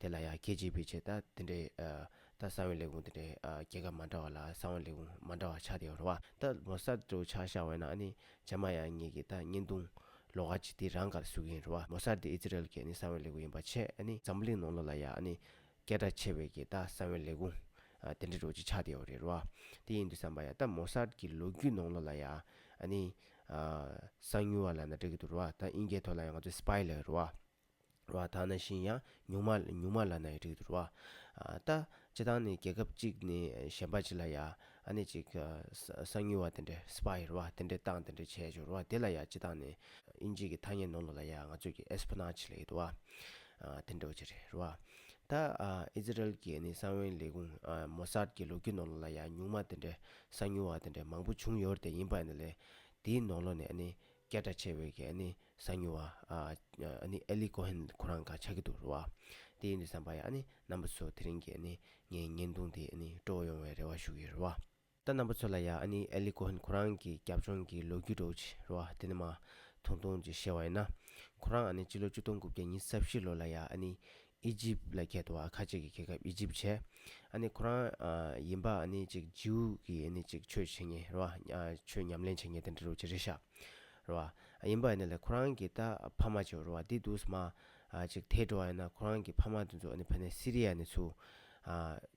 དེ་ལ་ཡང་ཁྱེད་ཅིག་པུས་བྱས་ལྟ་དེ་འདྲའི། ལྟ་ས་བོན་ལས་བུང་དེ་འདྲའི། རྒྱལ་ཁབ་མ་འདྲ་བ་ལ་ས་བོན་ལས་བུང་མ་འདྲ་བ་ཆགས་ཏེ་རོ། ལྟ་མོ་ས་འདྲ་བོ་ཆགས་ཤ་བས་ན་ནི་བྱ་མ་ཡང་ངེད་ཀྱི་ལྟ་བསྙེན་བརྡུང། ལོ་ག་ཅིག་དེ་རང་གར་ཟུག་གིན་རོ། མོ་ས་འདི་ཨི་ཛི་རལ་གྱི་ནི་ས་བོན་ལས་བུང་ཡིན་པར་ཆད། འཛམ་བུ་གླིང་ནང་ལོ་ལ་ཡང་ནི། སྐད་སྒྲ་ཆེ་བས་ཀྱི་ལྟ་ས་བོན་ལས་བུང། དེ་འདྲ་འགྲོ་ཅིག་ཆགས་ཏེ་རེ་རོ། དེ་ཡིན་དུ་བསམ་པ་ཡང་ལྟ་མོ་ས་འདྲ་གི་ལོ་རྒྱུས་ནང་ལོ་ལ་ཡང། ནི། གསང་མྱུལ་བ་ལ་ན་འདྲ་གི་དུ་རོ། ཨིན་སྐད་ཐོག་ལ་ཡང་ང་ཚོས་སྤཱའི་ལ་རོ། བ་དག་ན་བཞིན་ཡང་ཉུང་མ་ཉུང་མ་ལ་ན་ཡི་རིགས་དུ་རུ་བ། ལྟ། སྤྱི་དང་ནི་རྒྱལ་ཁབ་གཅིག་ནི་གཞན་པ་ཅི་ལ་ཡ། ཨ་ནི་ཅིག། གསང་ཉུལ་བ་དེ་འདྲའི་སྤ་ཡི་རུ་བ་དེ་འདྲའི་སྟངས་དེ་འདྲའི་བྱས་བྱུ་རུ་བ་དེ་ལ་ཡ་སྤྱི་དང་ནི། ཨིན་ཇིག་གི་ཐ་སྙད་ནོ་ལོ་ལ་ཡ་ང་ཚོས་ཀྱི་ཨེས་པོ་ན་ཆི་ལ་ཡི་དུ་བ། དེ་འདྲའི་བ་ཅི་རི་རུ་བ། ལྟ། ཨི་ཛི་རལ་གྱི་ནི་གསང་བའི་ལས་ཀུན། མོ་སར་གྱི་ལུགས་ཀྱི་ནོ་ལོ་ལ་ཡ་ཉུང་མ་དེ་འདྲའི་གསང་ཉུལ་བ་དེ་འདྲའི་མང་པོ་བྱུང་ཡོར་དེ་ཡིན་པ་ནི་ལས། དེའི་ནོ་ལོ་ནི་ཨ་ནི། སྐད་སྒྲ་ཆེ་བའི་གི་ཨ་ནི། གསང་མྱུལ་བ། ཨ་ལི་ཀོ་ཧན་ཁོ་རང་ག་ཆགས་ཀྱི་འདུག་རེད་བ། དེ་ཡིན་དུ་བསམ་པ་ཡ་ཨ་ནི་རྣམ་པ་ཚོ་དེ་རིང་གི་ངའི་བརྙན་ཐུང་དེ་སྤྲོ་བོ་ཡོང་བའི་རེ་བ་ཞུ་གི་རེད་བ། ད་རྣམ་པ་ཚོ་ལ་ཡ་ཨ་ནི་ཨ་ལི་ཀོ་ཧན་ཁོ་རང་གི་རྒྱབ་ལྗོངས་ཀྱི་ལོ་རྒྱུས་སྤྲོ་བོ་ཆེ་རེད་བ་དེ་ནི་མ་མཐོང་མཐོང་ཅིག་བཤད་བ་ཡིན་ན། ཁོ་རང་ཨ་ནི་སྤྱི་ལོ་བཅུ་སྟོང་དགུ་བརྒྱ་ཉིས་ས་བཞི་ལོ་ལ་ཡ་ཨ་ནི་ཨི་ཇིབ་ལ་ཁད་དུ་ཨ་ཁ་ཅིག་གི་རྒྱལ་ཁབ་ཨི་ཇིབ་བྱས། ཨ་ནི་ཁོ་རང་ཡིན་པ་ཨ་ནི་ཅིག་ཇིའུ་གི་ཨ་ནི་ཅིག་ཆོས་བྱེད་ངེས་རོ་ཨ་ཆོས་ཉམས་ལེན་བྱེད་ངེས་དེ་འདྲ་རོ་ཅི་རེད་ཤག་རོ་ཨ་ཡིན་པ་ཨ་ནི་ལ་ཁོ་རང་གི་ད་ཕ་མ་ཅིག་རོ་ཨ་དེ་དུས་མ་ཨ་ཅིག་དེ་འགྲོ་ཨ་ཡིན་ན་ཁོ་རང་གི་ཕ་མ་དེ་ཚོ་ཨ་ནི་ཕ་ནི་སི་རི་ཡ་ནི་ཚུ་ཨ།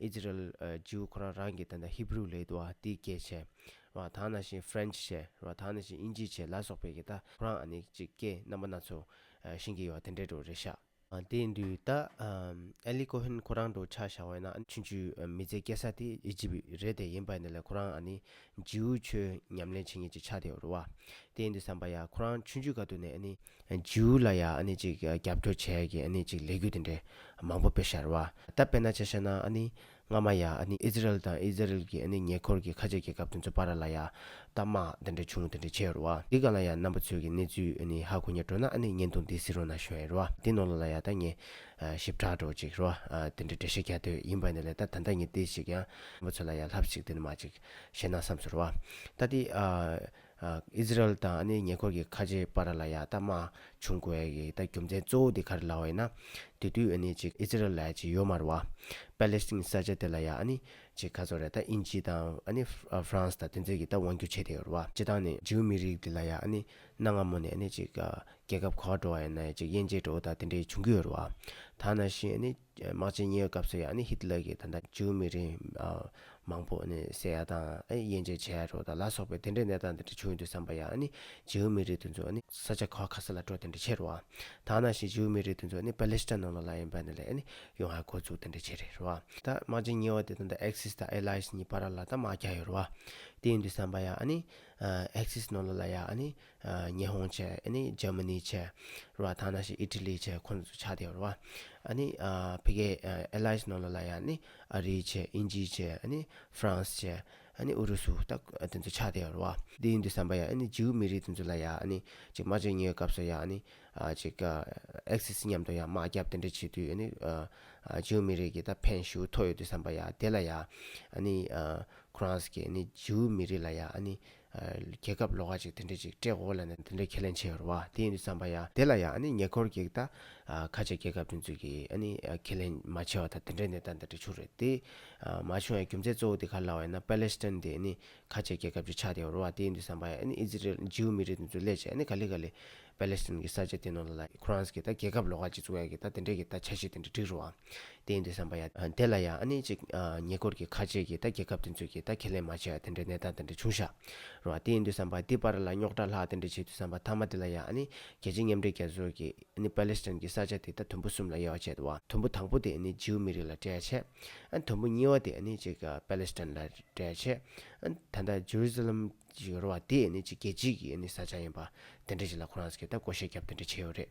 ཨིཛི་རལ། ཇིའུ་ཁོ་རང་རང་གི་ད་ད་ཧི་བྷྲུ་ལས་དུ་ཨ་ཏི་སྐད་བྱས། རེད་བ། ད་ང་ན་ཤིན French བྱས། རེད་བ། ད་ང་ན་ཤིན་ཨིན་ཇི་བྱས་ལ་སོགས་པའི་གི་ད་ཁོ་རང་ཨ་ནི་ཅིག་སྐད་རྣམ་པ་སྣ་ཚོགས། ཤིན་གི་ཡོ་བ་དེ་འདྲས་འགྲོ་རེད་ཤག། དེ་འདུས་ད། ཨེ་ལི་ཀོ་ཧན་ཁོ་རང་འགྲོ་ཆགས་བཞག་བས་ན་ཆུན་ཆུ་མི་ཚེ་སྐྱེལ་ས་དེ་ཨི་ཇི་བྷི་རེད་དེ་ཡིན་པ་ནི་ལས་ཁོ་རང་ཨ་ནི་ཇིའུ་ཆོས་ཉམས་ལེན་བྱེད་ངེས་ཅིག་ཆགས་དེ་རེད་བ། དེ་འདུས་བསམ་པ་ཡ་ཁོ་རང་ཆུན་ཆུ་ག་དུ་ནས་ཨ་ནི་ཇུའུ་ལ་ཡང་ཨ་ནི་ཅིག་རྒྱབ་སྐྱོར་བྱས་ཀྱི་ཨ་ནི་ཅིག་ལས་གུད་དེ་འདྲའི་མང་པོ་དཔེ་ཤར་བ། ད་དཔེར་ན་བྱ་ཤ་ན་ཨ་ནི་སྔ་མ་ཡང་ཨ་ནི་ཨི་ཛི་རལ་དང་ཨི་ཛི་རལ་གྱི་ཨ་ནི་ཉེ་འཁོར་གྱི་ཁ་ཆད་ཀྱི་སྐབས་དེ་ཚོ་པ་ར་ལ་ཡ་ཏཱ་དམག་དེ་འདྲའི་བྱུང་དེ་འདྲའི་བྱས་ཡོར་བ། འདི་ག་ལ་ཡང་རྣམ་པ་ཚོས་ཀྱི་གནས་ཚུལ་ཨ་ནི་ཧ་གོ་ཉེར་འགྲོ་ན་ཨ་ནི་བརྙན་ཐུང་འདི་སི་རོ་ན་ཤོན་ཡོར་བ། འདི་ནོ་ལོ་ལ་ཡ་ཏཱ་ཉེ་ཞིབ་ཕྲ་འགྲོ་ཅིག་ཡོར་བ། དེ་འདྲའི་འགྲེལ་བཤད་རྒྱ་དོད་ཡིན་པ་ནི་ལས་ད་ད་ནི་ཏི་ཞིག་ཡང་རྣམ་པ་ཚོ་ལ་ཡ་ལྷབ་ཞིག་དེ་ནི་མ་ཅིག་བཤད་ན་བསམས་སོ་ཡོར་བ། ད་ཏི་ཨ། ཨིས་ར་ཨེལ་དང་ཉེ་འཁོར་གྱི་ཁ་ཆེ་པཱ་ར་ལ་ཡཱ་ཏཱ་མ་བྱུང་གོ་ཨེལ་གྱི་རྒྱུ་མཚན་གཙོ་བོ་དེ་ག་རེ་ལ་འོས་ན། དེ་དུས་ཨེ་ནི་ཅི་ཨིས་ར་ཨེལ་གྱི་ཡོ་མར་བ། པཱ་ལེ་སི་ཐིན་ས་ཆ་དེ་ལ་ཡཱ་ཨེ་ནི་ཅི་ག་ཚོ་རེ་ད་དབྱིན་ཇི་དང་ཨེ་ནི་ཧྥ་རན་སི་དང་དེ་ཚོས་གྱི་ད་དབང་བསྒྱུར་བྱས་དེ་ཡོ་ར་བ། ཅི་དང་ནི་ཇིའུ་མི་རིགས་དེ་ལ་ཡཱ་ཨེ་ནི་གནའ་སྔ་མོ་ནས་ཨེ་ནི་ཅི་ག་རྒྱལ་ཁབ་གོ་ག་འགྲོ་བ་ཡོ་ན་ཡ་ཅི་དབྱེ་འབྱེད་འགྲོ་བ་དང་དེ་འདྲའི་བྱུང་གི་ཡོ་ར་བ། ད་ན་བཞིན་ཨེ་ནི། དམག་ཆེན་གཉིས་པའི་སྐབས་སུ་ཡང་ནི་ཧི་ཏི་ལར་གྱིས་ད་ལྟ་ཇུའུ་མི་རིགས་མང་པོ་ནི་བསད་ཡག་དང་དབྱེ་འབྱེད་བྱས་ཡག་རོགས་དང་ལ་སོགས་པའི་དེ་འདྲའི་གནས་སྟངས་དེ་འདྲ་བྱུང་ཡོད་འདུག་བསམ་པ་ཡང་ནི་ཇིའུ་མི་རིགས་དེ་ཚོ་ནི་ས་ཆ་ཁ་ཁ་སེ་ལ་འགྲོ་དེ་འདྲ་བྱེད་རོགས་ད་ནང་བཞིན་ཇིའུ་མི་རིགས་དེ་ཚོ་ནི་པ་ལི་སི་ཐན་ནང་ལོགས་ལ་ཡིན་པ་ནི་ལས་ནི་ཡོང་ཧ་གོ་ཚུགས་དེ་འདྲ་བྱེད་རེད་རོགས་ད་དམག་ཆེན་གཉིས་པ་དེ་དང་ད་ཨེག་སིས་དང་ཨེ་ལ་ཡིས་གཉིས་པ་ར་ལ་ད་དམག་རྒྱག་ཡོད་རོགས་དེ་ཡིན་འདུག་བསམ་པ་ཡང་ནི་ཨེག་སིས་ནང་ལོགས་ལ་ཡང་ནི་ཉི་ཧོང་བཅས་ནི་ཇར་མ་ནི་བཅས་རེད་བ་ཐ་ན་ཞིག་ཨི་ཏྲི་ལི་བཅས་ཁོ་ཚོ་ཆགས་ཡོད་རེད་བ། ཨ་ནི་ཕི་གའི་ཨེ་ལའི་ནང་ལོ་ལ་ཡང་ནི་ཨ་རི་བཅས་དབྱིན་ཇི་བཅས་ཨ་ནི་ཧྥ་རན་སི་བཅས་ཨ་ནི་ཨུ་རུ་སུ་ད་དེ་ཚོ་ཆགས་ཡོད་རེད་བ། དེ་ཡིན་དུ་བསམ་པ་ཡང་ཨ་ནི་ཇིའུ་མི་རིགས་དེ་ཚོ་ལ་ཡང་ཨ་ནི་ཅིག་སྨྲ་བརྗོད་ཉོས་སྐབས་སུ་ཡང་ཨ་ནི་ཅིག་ཨེག་སི་སི་མཉམ་དུ་ཡང་དམག་རྒྱབ་དེ་འདྲ་བྱེད་དུས་ཨ་ནི་ཇིའུ་མི་རིགས་ཀྱི་ད་ཕན་ཞུ་ཐོགས་ཡོད་དུ་བསམ་པ་ཡང་དེ་ལ་ཡང་ཨ་ནི་ཁོ་རང་སི་གི་ཨ་ནི་ཇིའུ་མི་རིགས་ལ་ཡང་ཨ་ནི་རྒྱལ་ཁབ་ལོག་ཁ་ཅིག་དེ་འདྲས་ཅིག་སྤྲད་འོ་ལ་ནི་དེ་འདྲས་ཁས་ལེན་བྱེད་འོར་བ་དེ་ཡིན་དུས་བསམ་པ་ཡ་དེ་ལ་ཡང་ཨ་ནི་ཉེ་འཁོར་གྱི་ད་ཁ་ཆེ་རྒྱལ་ཁབ་དེ་ཚོས་ཀྱིས་ཨ་ནི་ཁས་ལེན་མ་བྱས་བ་ད་དེ་འདྲས་གནས་སྟངས་དེ་འདྲས་བྱུང་རེད་དེ། མ་བྱུང་ཡང་རྒྱུ་མཚན་གཙོ་བོ་དེ་ག་ལ་བ་ཡིན་ན་པ་ལེ་སི་ཏན་དེ་ཨ་ནི་ཁ་ཆེ་རྒྱལ་ཁབ་ཅིག་ཆགས་ཏེ་འོར་བ་དེ་ཡིན་དུས་བསམ་པ་ཡ་ཨ་ནི་ཨི་ཛི་རེལ་ཇིའུ་མི་རིགས་དེ་ཚོས་སླད་ཕྱིན་ཨ་ནི་ག་ལེ་ག་ལེ་པ་ལེ་སི་ཏན་གྱི་ས་ཆ་དེ་ནོར་ལ་ལ་ཁོ་རང་ཚོ་གིས་ད་རྒྱལ་ཁབ་ལོག་ཁ་ཅིག་བཙུགས་ཡ་གི་ད་དེ་འདྲས་ཀྱི་ད་བྱ་བྱེད་དེ་འདྲས་འགྲིག་རུ་ཨང། བརྟེན་ཏེ་བསམ་པ་ཡ། དེ་ལ་ཡང་ཨ་ནི་གཅིག། ཉེ་འཁོར་གྱི་ཁ་ཆེ་གི་ད་རྒྱལ་ཁབ་དེ་ཚོས་ཀྱི་ད་ཁས་ལེན་མ་བྱས་ཨ་དེ་འདྲའི་གནས་སྟངས་དེ་འདྲ་བྱུང་ཤག། རོ་ཨ་བརྟེན་ཏེ་བསམ་པ་འདི་པར་ལ་རྙོག་དྲ་ལྷག་དེ་འདྲ་བྱེད་དུས་བསམ་པ་མཐའ་མ་དེ་ལ་ཡང་ཨ་ནི་རྒྱལ་སྤྱི་མཉམ་འབྲེལ་རྒྱལ་ཚོགས་ཀྱི་ཨ་ནི་པ་ལེ་སི་ཐན་གྱི་ས་ཆ་དེ་ད་དུམ་བུ་གསུམ་ལ་དབྱེ་བ་བྱས་དུ་བ་དུམ་བུ་དང་པོ་དེ་ཨ་ནི་རྗིའུ་མི་རིགས་ལ་སྤྲད་ཆེ། ཨ་དུམ་བུ་གཉིས་བ་དེ་ཨ་ནི་གཅིག་པ་ལེ་སི་ཐན་ལ་སྤྲད་ཆེ། ཨ་ད་ལྟ Jerusalem ཞིག་རོ་ཨ་དེ་ཨ་ནི་གཅིག་རྒྱལ་སྤྱི་གི་ཨ་ནི་ས་ཆ་ཡིན་པ་དེ་འདྲ་ཞིག་ལ་ཁོ་རང་ས་གི་ད་བསྐོ་བཞེས་རྒྱབ་དེ་འདྲ་བྱས་ཡོད་རེད།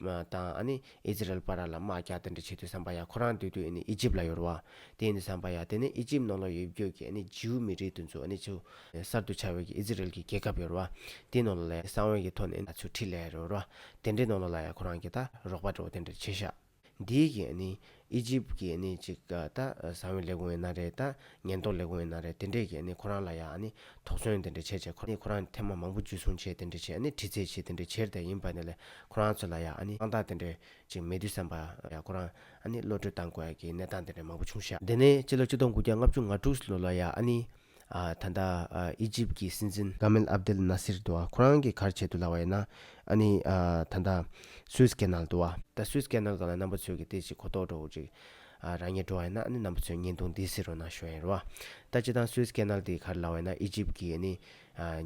དང་ཨ་ནི་ཨིས་རལ་པ་ར་ལ་དམག་རྒྱག་དེ་འདྲ་བྱེད་དུས་བསམ་པ་ཡ་ཁོ་རང་སྡོད་དུས་ཨ་ནི་ཨི་ཇིབ་ལ་ཡོར་བ། དེ་ནི་བསམ་པ་ཡ་དེ་ནི་ཨི་ཇིབ་ནོར་ལོ་ཡོད་བརྒྱུད་ཀྱི་ཨ་ནི་ཇིའུ་མི་རིགས་དུ་འཛུགས་ཨ་ནི་ཆུ། གསར་དུ་ཆགས་ཡོད་ཀྱི་ཨིས་རལ་གྱི་རྒྱལ་ཁབ་ཡོར་བ། དེ་ནོར་ལོ་ལའི་གསང་བའི་ཡི་ཐོག་ནི་ཨ་ཆུ་ཁྲི་ལས་ཡོར་བ། དེ་འདྲའི་ནོར་ལོ་ལ་ཡ་ཁོ་རང་གི་ད་རོག་པ་འདྲ་བོ་དེ་འདྲ་བྱེད་ཤག། འདིའི་གིས་ཨ་ནི་ཨི་ཇིབ་ཀྱི་ནི་གཅིག་ཨ་ད་བཟང་བའི་ལས་ཁུང་བའི་ན་རེ་ད་ཉེན་རྟོག་ལས་ཁུང་བའི་ན་རེ་དེ་འདྲས་ཀྱི་ནི་ཁོ་རང་ལ་ཡ་ནི་དོགས་ཟོན་དེ་འདྲས་བྱས་བྱས་ཁོ་ནི་ཁོ་རང་ཐེ་མ་མང་པོ་འཇུས་སོང་བྱས་དེ་འདྲས་བྱས་ཨ་ནི་དྲི་ཚས་བྱས་དེ་འདྲས་བྱས་ད་ཡིན་པ་ནི་ལས་ཁོ་རང་ཚོ་ལ་ཡ་ཨ་ནི་དཔང་རྟགས་དེ་འདྲས་ཅིག་མེད་དུས་བསམ་པ་ཡ་ཁོ་རང་ཨ་ནི་བློ་གྲོས་བཏང་དགོས་ཀྱི་གནས་སྟངས་དེ་འདྲས་མང་པོ་བྱུང་ཤག། དེ་ནས་སྤྱི་ལོ་སྤྱི་སྟོང་དགུ་བརྒྱ་ལྔ་བཅུ་ང་དྲུག་ལོ་ལ་ཡ་ཨ་ནི་ད་ལྟ་ཨི་ཇིབ་ཀྱི་སྲིད་འཛིན། གྷ་མེལ་ཨབ་དེལ་ནཱ་སིར་འདུག་ཁོ་རང་གི་གར་བྱེད་དུ་ལགས་པ་ཡིན་ན། ཨ་ནི། ད་ལྟ Suez Canal དུ་བ། ད Suez Canal གང་ལ་རྣམ་པ་ཚོས་ཀྱི་དེ་ཅིག་གོ་རྟོགས་འགྲོ་འོ་ཅིག། རང་ཉིད་འགྲོ་བ་ཡིན་ན་ཨ་ནི་རྣམ་པ་ཚོས་བརྙན་ཐུང་འདི་གཟིགས་རོགས་གནང་ཞུ་བ་ཡིན་རུ་བ། ད་སྤྱི་དང Suez Canal དེའི་གར་ལགས་པ་ཡིན་ན་ཨི་ཇིབ་ཀྱི་ཨ་ནི།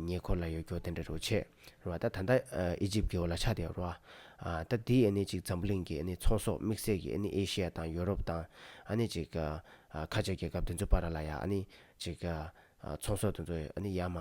ཉེ་འཁོར་ལ་ཡོད་སྐྱོ་དེ་འདྲ་རུ་ཆེ། རུ་བ། ད་ད་ལྟ་ཨི་ཇིབ་ཀྱི་འོ་ལ་ཆགས་བསྡད་ཡོད་རུ་བ། ད་འདི་ཨ་ནི་ཅིག་འཛམ་བུ་གླིང་གི་ཨ་ནི་ཚོང་ཟོག་དམིགས་བསལ་གྱི་ཨ་ནི་ཨེ་ཤི་ཡ་དང་ཡོ་རོབ་དང་ཨ་ནི་ཅིག། ཁ་ཅིག་རྒྱལ་ཁབ་དེ་ཚོའི་པར་ལ་ཡང་ནི་ཅིག། ཚོང་ཟོག་དེ་ཚོའི་ནི་ཡ་མ།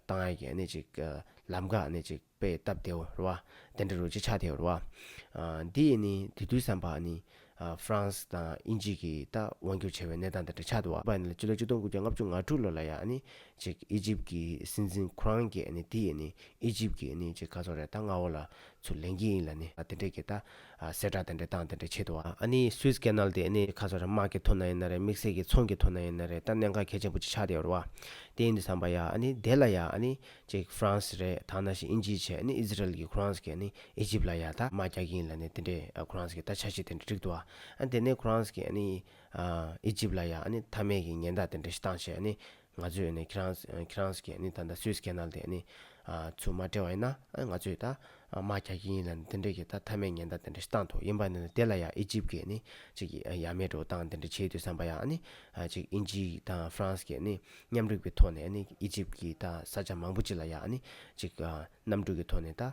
ཏང་ཡ་གི་ནི་ཅིག། ལམ་ཁ་ནི་ཅིག་པའི་སྟབས་དེ་འོ་ར་བ། དེ་འདྲ་རུ་ཅིག་ཆགས་དེ་འོ་ར་བ། འདི་ཡི་ནི་དེ་དུས་བསམ་པ་ནི། ཧྥ་རན་སི་དང་དབྱིན་ཇི་གི་ད་དབང་བསྒྱུར་བྱས་པའི་གནས་སྟངས་དེ་འདྲ་ཆགས་འདུག་བ། པ་ནི་ལ་སྤྱི་ལོ་གཅིག་སྟོང་དགུ་བརྒྱ་ལྔ་བཅུ་ང་དྲུག་ལོ་ལ་ཡང་ནི་ཅིག་ཨི་ཇིབ་ཀྱི་སྲིད་འཛིན་ཁུ་རང་གིས་ནི་དེ་ཡི་ནི་ཨི་ཇིབ་ཀྱི་ནི་ཅིག་ཁ་ཚོར་རེ་ད་ང་འོ་ལ་ཚུར་ལེན་གྱི་ཡིན་ལ་ནི་དེ་འདྲས་ཀྱི་ད་གསལ་བསྒྲགས་དེ་འདྲའི་སྟངས་དེ་འདྲའི་ཆེད་དུ་ཨ་ནི Suez Canal དེ་ཨ་ནི་ཁ་སང་དམག་གི་ཐོག་ན་ཡིན་ན་རེད་དམིགས་བསལ་གྱི་ཚོང་གི་ཐོག་ན་ཡིན་ན་རེད་ད་གནད་འགག་གལ་ཆེན་པོ་ཅིག་ཆགས་བསྡད་ཡོད་རེད་བ། དེ་ཡིན་དུ་བསམ་པ་ཡ་ཨ་ནི་དེ་ལ་ཡ་ཨ་ནི་གཅིག France རེད་ད་ནང་བཞིན་དབྱིན་ཇིའི་ཆེད་ཨ་ནི Israel གྱི Kurans གི་ཨ་ནི Egypt ལ་ཡ་ད་དམག་རྒྱག་གི་ཡིན་ལ་ནི་དེ་འདྲའི Kurans གི་ད་ཆ་ཞིག་དེ་འདྲ་འགྲིག་འདུག་བ། ཨ་ནི་དེ་ནས Kurans གི་ཨ་ནི Egypt ལ་ཡ་ཨ་ནི་མཐའ་མེད་ཀྱི་ཉེན་བརྡ་དེ་འདྲ་ཞིག་བཏང་བྱས་ཨ་ནི་ང་ཚོས་ནི་ཁྱེད་རང་ཁྱེད་རང་གིས་ནི་ད་ལྟ་སུས Canal དེ་ནི་ཚུར་མ་སྤྲད་བ་ཡིན་ན་ང་ཚོས་ད་མ་རྒྱག་གི་ཡིན་ལ་དེ་འདྲས་ཀྱི་ད་མཐའ་མའི་ཉེན་བརྡ་དེ་འདྲ་ཞིག་བཏང་ཐུབ་ཡིན་པ་ནི་དེ་ལ་ཡང་ཨི་ཇིབ་ཀྱིས་ནི་ཅིག་ཡ་མེད་འགྲོ་སྟངས་དེ་འདྲ་བྱེད་ཡོད་དུས་བསམ་པ་ཡང་ནི་ཅིག་དབྱིན་ཇི་དང་ཧྥ་རན་སི་ཀྱིས་ནི་མཉམ་རུབ་ཀྱི་ཐོག་ནས་ནི་ཨི་ཇིབ་ཀྱི་ད་ས་ཆ་མང་པོ་ཅིག་ལ་ཡང་ནི་ཅིག་གནམ་གྲུ་གྱི་ཐོག་ནས་ད་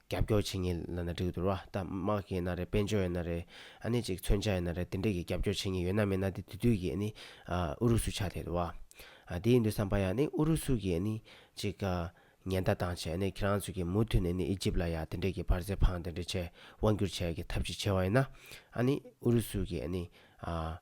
རྒྱབ་སྐྱོར་བྱེད་ངེས་ལ་ན་འགྲིག་འདུག་ར་ད་དམག་གི་ན་རེ་དཔལ་འབྱོར་ཡ་ན་རེ་ཨ་ནི་ཅིག་མཚོན་ཆ་ཡ་ན་རེ་དེ་འདྲས་ཀྱི་རྒྱབ་སྐྱོར་བྱེད་ངེས་ཡོད་ན་མེད་ན་དེ་དུས་དུས་ཀྱི་ཨ་ནི་ཨུ་རུ་སུ་ཆགས་བསྡད་འདུག་བ་དེ་ཡིན་དུས་བསམ་པ་ཡ་ནི་ཨུ་རུ་སུ་གྱིས་ཨ་ནི་ཅིག་ཉེན་བརྡ་བཏང་བྱས་ཨ་ནི་ཁྱེད་རང་ཚོས་ཀྱིས་མུ་མཐུད་ནས་ཨ་ནི་ཨི་ཇིབ་ལ་ཡ་དེ་འདྲས་ཀྱི་བར་ཟས་ཕང་དེ་འདྲས་བྱས་དབང་བསྒྱུར་བྱས་ཀྱི་ཐབས་ཅིག་བྱས་བ་ཡིན་ན་ཨ་ནི་ཨུ་རུ་སུ་གྱིས་ཨ་ནི་ཨ་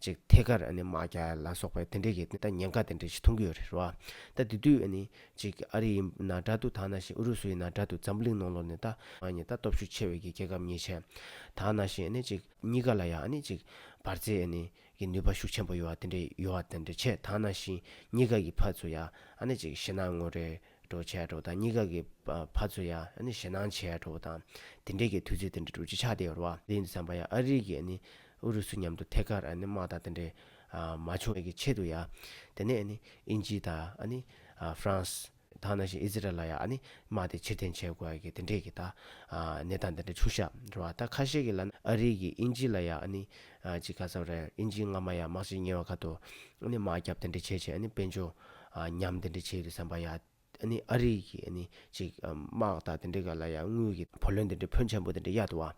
ཅིག་ཐད་ཀར་མ་རྒྱ་ལ་སོགས་པའི་དེ་འབྲེལ་གྱི་ཉེན་ཁ་དེ་འདྲ་ཞིག་མཐོང་གི་ཡོད་རེད་བ། ད་དེ་དུས་ནི། ཅིག་ཨ་རི་ཡི་ན་དྲ་དུ་དག་ན་བཞིན་ཨུ་རུ་སུ་ཡི་ན་དྲ་དུ་འཛམ་བུ་གླིང་ནང་ལོ་ནི་ད། ཨ་ནི་ད་སྟོབས་ཤུགས་ཆེ་བའི་གི་རྒྱལ་ཁབ་གཉིས་ཆེན། དག་ན་བཞིན་ནི་ཅིག་གཉིས་ཀ་ལ་ཡང་ནི་ཅིག། འབར་རྫས་ཨ་ནི། གི་ནུས་པ་ཤུགས་ཆེན་པོ་ཡོད་བ་དེ་འདྲ་ཡོད་བ་དེ་འདྲ་ཆེ་དག་ན་བཞིན་གཉིས་ཀ་གི་ཕ་ཚུ་ཡ་ཨ་ནི་ཅིག་ཤི་ན་ངོ་རེ། གྲོགས་བྱས་གྲོགས་དང་གཉིས་ཀ་གི་བར་ཚོ་ཡ་ནི་ཞེ་སྣང་བྱས་གྲོགས་དང་དེ་འདྲས་ཀྱི་དུས་ཚོད་དེ་འདྲ་འགྲོ་རྒྱུ་ཆགས་བསྡད་རོ། དེ་ཡིན་དུ་བསམ་པ་ཡ་ཨ་རིག་གི་ཨ་ནི་ཨུ་རུ་སུ་མཉམ་དུ་ཐད་ཀར་ཨ་ནི་དམག་དང་དེ་འདྲས་མ་བྱུང་བའི་ཆེད་དུ་ཡ་དེ་ནས་ཨ་ནི་ཨིན་ཇི་དང་ཨ་ནི France དང་ནང་བཞིན་ཨི་ཛི་རལ་ལ་ཡ་ཨ་ནི་དམག་དེ་ཕྱིར་འཐེན་བྱས་དགོས་ཡ་གི་དེ་འདྲས་ཀྱི་ད་ནས་ད་འདི་འདྲ་ཆུ་བཞག་འགྲོ་བ་ད་ཁ་ཤས་ཀྱི་ལ་ཨ་རིག་གི་ཨིན་ཇི་ལ་ཡ་ཨ་ནི་ཅི་ཁ་ཚ་རལ་ཨིན་ཇི་སྔ་མ་ཡ་དམག་སྤྱི་ཉེ་བ་ཁ་དོ་ཨ་ནི་དམག་རྒྱབ་དེ་འདྲས་བྱས་བྱས་ཨ་ནི་དཔལ་འབྱོ། ཉམས་དེ་འདྲ་བྱས་ཡོད་བསམ་པ་ཡ། ཨ་ནི་ཨ་རིག་གི་ཨ་ནི་ཅིག་དམག་དག་དེ་འདྲ་ག་ལ་ཡ་དངུལ་གི་བུ་ལོན་དེ་འདྲ་ཕོན་ཆེན་པོ་དེ་འདྲ་གཡར་འདུག་བ།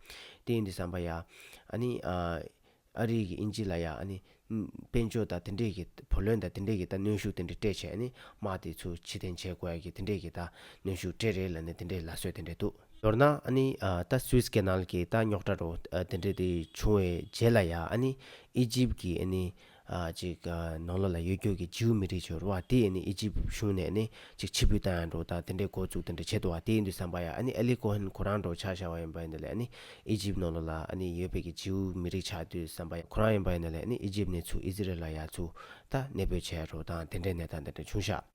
དེ་ཡིན་དུ་བསམ་པ་ཡ། ཨ་ནི་ཨ་རིག་གི་ཨིན་ཇི་ལ་ཡ་ཨ་ནི་དཔལ་འབྱོར་དག་དེ་འདྲས་གི་བུ་ལོན་དག་དེ་འདྲས་གི་ད་གནོན་ཤུགས་དེ་འདྲ་སྤྲད་བྱས་ཨ་ནི་དམག་དེ་ཚོ་ཕྱི་འཐེན་བྱས་དགོས་ཡ་གི་དེ་འདྲས་གི་ད་གནོན་ཤུགས་སྤྲད་རེད་ལ་ནི་དེ་འདྲས་ལ་སོད་དེ་འདྲས་འདུག། མདོར་ན་ཨ་ནི་ད Suez Canal གི་ད་རྙོག་དྲ་རོ་དེ་འདྲས་དེ་བྱུང་བའི་རྗེས་ལ་ཡ་ཨ་ནི་ཨི་ཇིབ་གི་ཨ་ནི་ཅིག། ནང་ལོགས་ལ་གཡོ་སྒྱུ་གི་ཇིའུ་མི་རིགས་ཆོས་ར་བ་དེས་ནི་ཨི་ཇིབ་གཞུང་ནས་ནི་ཅིག་ཕྱི་བུད་ད་ཡང་འགྲོ་དང་དེ་འདྲའི་འགོ་བཙུགས་དེ་འདྲ་བྱེད་དོ་བ་དེའི་འདུ་བསམ་པ་ཡ་ཨ་ནི་ཨེ་ལི་ཀོ་ཧན་ཁོ་རང་འགྲོ་ཆགས་བྱ་བ་ཡིན་པ་ཡིན་ད་ལས་ཨ་ནི་ཨི་ཇིབ་ནང་ལོགས་ལ་ཨ་ནི་ཡོད་པའི་གི་ཇིའུ་མི་རིགས་ཆགས་འདུ་བསམ་པ་ཡ་ཁོ་རང་ཡིན་པ་ཡིན་ད་ལས་ཨ་ནི་ཨི་ཇིབ་ནས་ཚུགས་ཨི་ཟི་རལ་ལ་ཡ་ཚུགས་ད་གནས་སྤོས་བྱས་རོ་དང་དེ་འདྲའི་ནས་ད་འདི་འདྲ་བྱུང་ཤག།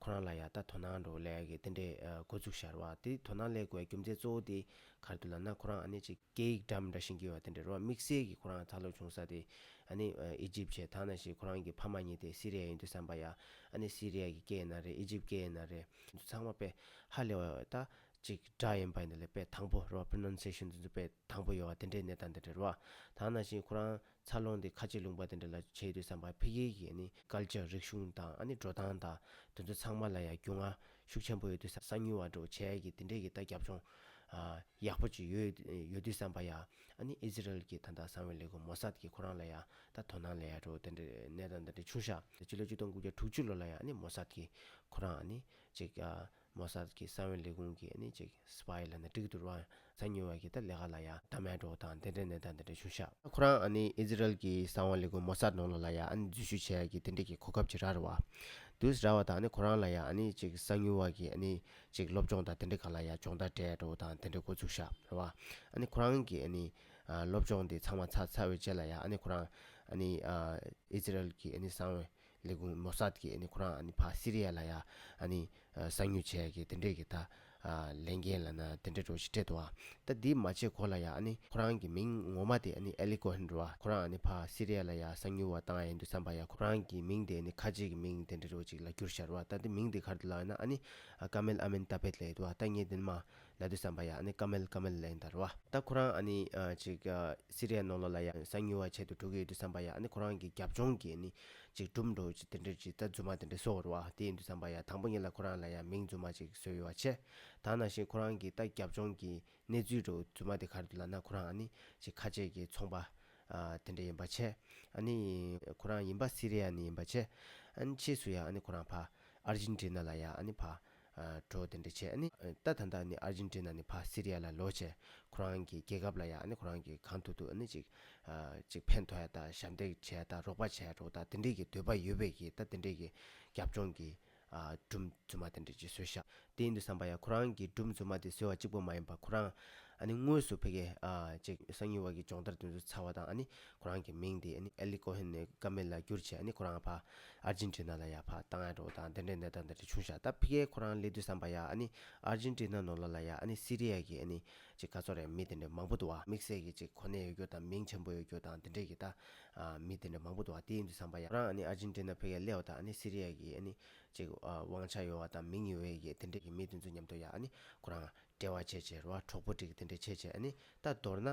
ཁོ་རང་ལ་ཡང་ད་དོ་སྣང་འགྲོ་ལས་ཀྱི་དེ་འདྲའི་འགོ་འཛུགས་ཤར་བ་དེ་དོ་སྣང་ལས་དགོས་རྒྱུ་མཚན་གཙོ་བོ་དེ་གར་འདུག་ལབ་ན་ཁོ་རང་ཨ་ནེ་ཅིག་སྐད་ཡིག་འདྲ་འདྲ་ཞིག་འགྱུར་བ་དེ་འདྲའི་རོ་དམིགས་བསལ་གྱི་ཁོ་རང་ད་ལོ་བྱུང་ས་དེ་ཨ་ནེ་ཨི་ཇིབ་བྱས་ད་ན་ཞིག་ཁོ་རང་གི་ཕ་མ་གཉིས་དེ་སི་རེ་ཡ་ཡིན་འདུག་བསམ་པ་ཡ་ཨ་ནེ་སི་རེ་ཡ་གི་སྐད་ཡིན་ན་རེད་ཨི་ཇིབ་སྐད་ཡིན་ན་རེད། འདི་ཚང་མ་དཔེ་ཧ་ལས་བ་ད་ཅིག་འདྲ་ཡིན་པ་འདི་ལ་དཔེ་དང་པོ་རོ Pronunciation འདི་ཚོ་དཔེ་དང་པོ་ཡོད་བ་དེ་འདྲའི་གནས་སྟངས་དེ་འདྲའི་རོ་ད་ན་ཞིག་ཁོ་རང་འཚར་ལོངས་དེ་ཁ་ཆེ་ལུང་པ་དེ་འདྲ་ལ་བྱེད་འདོད་བསམ་པ་ཕལ་ཆེར་གྱིས་ནི་སྐལ་ལྕག་རིག་གཞུང་དང་ཨ་ནི་འགྲོ་སྟངས་དང་དེ་ཚོ་ཚང་མ་ལ་ཡང་རྒྱུས་མངའ་ཤུགས་ཆེན་པོ་ཡོད་འདོད་བསམ་ས་ཉུལ་བ་འགྲོ་བྱས་ཀྱི་དེ་འདྲས་ཀྱི་ལྟ་རྒྱབ་ཅུང་ཡག་པོ་ཅིག་ཡོད་ཡོད་འདོད་བསམ་པ་ཡ་ཨ་ནི Israel གྱི་ད་ལྟ་གསང་བའི་ལས་ཁུངས་མོ་སཱད་ཀྱི་ཁོ་རང་ལ་ཡང་ད་དོ་སྣང་ལ་ཡ་འགྲོ་དེ་འདྲས་གནས་སྟངས་དེ་འདྲས་ཆུང་ཤག་སྤྱི་ལོ་བཅུ་སྟོང་དགུ་བརྒྱ་དྲུག་ཅུ་ལོ་ལ་ཡ་ཨ་ནི་མོ་སཱད་ཀྱི་ཁོ་རང་ཨ་ནི་ཅིག་མོ་སཱད་ཀྱི་ས་བོན་ལས་ཁུངས་ཀྱི་ནི་ཅིག Spy ལ་ནི་དཀྲིགས་དུར་བ་ཚ་ཉུལ་བ་ཀྱི་ད་ལེ་ཧ་ལ་ཡ་ད་མའི་གྲོགས་དང་དེ་འདྲའི་ནི་ད་འདི་འདྲའི་ཤུ་ཤ། ཁོ་རང་ཨ་ནི་ཨི་ཟི་རལ་གྱི་ས་བོན་ལས་ཁུངས་མོ་སཱད་ནོ་ལོ་ལ་ཡ་ཨ་ནི་འཛུལ་ཞུགས་བྱས་ཀྱི་དེ་འདྲའི་ཀྱི་གོ་སྐབས་ཅིག་ར་རི་བ། དུས་ར་བ་དང་ནི་ཁོ་རང་ལ་ཡ་ཨ་ནི་ཅིག་ས་ཉུལ་བ་ཀྱི་ཨ་ནི་ཅིག་སློབ་སྦྱོང་དང་དེ་འདྲའི་ག་ལ་ཡ་སྦྱོང་ད་དྲའི་གྲོགས་དང་དེ་འདྲའི་གོ་ཚུགས་ཤ་རི་བ། ཨ་ནི་ཁོ་རང་གི་ཨ་ནི་སློབ་སྦྱོང་འདི་ཚང་མ་ཚ་ཚ་བའི་རྗེས་ལ་ཡ་ཨ་ནི་ཁོ་རང་ཨ་ནི་ཨི་ཟི་རལ་གྱི་ཨ་ནི་ས་བོན་ལས་ཁུངས་མོ་སཱད་ཀྱིས་ཁོ་རང་ཕ་སི་རི་ཡ་ལ་ཡང་གསང་མྱུལ་བྱས་ཀྱི་དེ་འདྲས་ཀྱི་ད་ལན་རྒན་ལ་ན་དེ་འདྲས་འགྲོ་ཞེས་སྤྲད་དོ། ད་འདི་མ་བྱས་གོ་ལ་ཡང་ཁོ་རང་གི་མིང་ངོ་མ་དེ་ཨེ་ལི་ཀོ་ཧན་རོ་ཁོ་རང་ཕ་སི་རི་ཡ་ལ་ཡང་གསང་མྱུལ་བ་བཏང་ཡིན་དུ་བསམ་པ་ཡང་ཁོ་རང་གི་མིང་དེ་ཁ་ཆེ་གི་མིང་དེ་འདྲས་རོ་ཅིག་ལ་བསྒྱུར་ཤར་བ་ད་འདི་མིང་དེ་གར་དུ་ལགས་ན་ཨ་ནི་ཀ་མེལ་ཨ་མེན་ཏཱ་བྷེད་ལ་ཡོད་དོ་ད་ངས་འདི་ནི་མ་ལ་དུས་བསམ་པ་ཡང་ཨ་ནི་ཀ་མལ་དཀའ་མལ་ལན་དར་བ། ད་ཁོ་རང་ཨ་ནི་ཅིག་སི་རི་ཡ་ནོ་ལོ་ལ་ཡང་གསང་ཉུལ་བ་བྱེད་དུ་འགྲོ་གི་ཡོད་དུས་བསམ་པ་ཡང་ཨ་ནི་ཁོ་རང་གི་རྒྱབ་ལྗོངས་ཀྱི་ཨ་ནི་ཅིག་སྒྲུབ་འགྲོ་ཅིག་དེ་འདྲས་ཅིག་རྩ་རྫུན་མ་དེ་འདྲས་བཟོ་བར་བ་དེ་ཡིན་དུས་བསམ་པ་ཡང་དང་པོ་ཉིད་ལ་ཁོ་རང་ལ་ཡང་མིང་རྫུན་མ་ཅིག་བཟོས་ཡོད་བ་ཆེ་ད་ནང་བཞིན་ཁོ་རང་གི་ད་རྒྱབ་ལྗོངས་ཀྱི་གནས་ཚུལ་འགྲོ་རྫུན་མ་དེ་ག་རེ་དུ་ལ་ན་ཁོ་རང་ཨ་ནི་ཅིག་ཁ་ཆེ་གི་ཚོང་པ་དེ་འདྲས་ཡིན་བ་ཆེ་ཨ་ནི་ཁོ་རང་ཡིན་བ་སི་རི་ཡ་ནི་ཡིན་བ་ཆེ་ཨ་ནི་ཕྱིས་སུ་ཡང་ཨ་ནི་ཁོ་རང་ཕ་ཨར་ཇིན་ཏི་ན་ལ་ཡང་ཨ་ནི་ཕ། གྲོགས་དེ་འདྲ་བྱས་ཨ་ནི། ད་ད་ལྟ་ནི་ཨར་ཇིན་ཏི་ན་ནི་ཕ་སི་རི་ཡ་ལ་ལོག་ཆེ། ཁོ་རང་གི་རྒྱལ་ཁབ་ལ་ཡང་ཨ་ནི་ཁོ་རང་གི་གང་ཐུག་ཐུག་ཨ་ནི་ཅིག། ཅིག་ཕན་ཐོགས་ཡ་དང་ཞབས་འདེགས་བྱས་ད་རོགས་པ་བྱས་རོགས་ད་དེ་འདྲས་ཀྱི་འདོད་པ་ཡོད་པས་ཀྱི་ད་དེ་འདྲས་ཀྱི་རྒྱབ་ལྗོངས་ཀྱི། སྒྲུབ་རྫུན་མ་དེ་འདྲས་ཅིག་བཟོས་ཤག་དེ་ཡིན་དུ་བསམ་པ་ཡ་ཁོ་རང་གི་སྒྲུབ་རྫུན་མ་དེ་བཟོས་བ་གཅིག་པོ་མ་ཡིན་པ་ཁོ་རང། ཨ་ནི་དངོས་སུ་ཕེ་ཀེ། ཅིག་སང་ཉིན་བར་གྱི་སྦྱོང་བརྡར་དེ་ཚོ་ཚར་བ་དང་ཨ་ནི་ཁོ་རང་གི་མིང་དེ་ཨེ་ལི་ཀོ་ཧན་ནས་ཀ་མེ་ལ་བསྒྱུར་ཆེད་ཁོ་རང་ཕ་ཨར་ཇིན་ཏི་ན་ལ་ཡག་ཕ་ཏཱ་ངན་རོ་དང་དེ་འདྲའི་ནད་རྟགས་འདི་འདྲ་བྱུང་ཤག་ད་ཕི་ཀའི་ཁོ་རང་ལས་དུས་བསམ་པ་ཡ་ཨར་ཇིན་ཏི་ན་ནོ་ལ་ལ་ཡ་སི་རི་ཡ་གི་ག་ཚོགས་རེད་མི་དེ་འདྲ་མང་པོ་འདུག་བ་དམིགས་བསལ་གི་གོ་གནས་ཡོད་རྒྱུ་དང་མིང་ཆེན་པོ་ཡོད་རྒྱུ་དང་དེ་འདྲས་གི་ད་མི་དེ་འདྲ་མང་པོ་འདུག་བ་དེའི་དུས་བསམ་པ་ཡ་ཁོ་རང་ཨར་ཇིན་ཏི་ན་ཕི་ཀའི་ཀླད་བ་དང་སི་རི་ཡ་གི་དབང་ཆ་ཡོད་བ་དང་མིང་ཡོད་བའི་གི་དེ་འདྲས་གི་མི་དེ་ཚོ་མཉམ་དུ་ཡ་ཁོ་རང་འབྲེལ་བ་བྱེད་བྱེད་རོ་བ་གྲོགས་པོ་འགྲིག་གི་དེ་འདྲས་བྱེད་བྱེད་ད་མདོར་ན་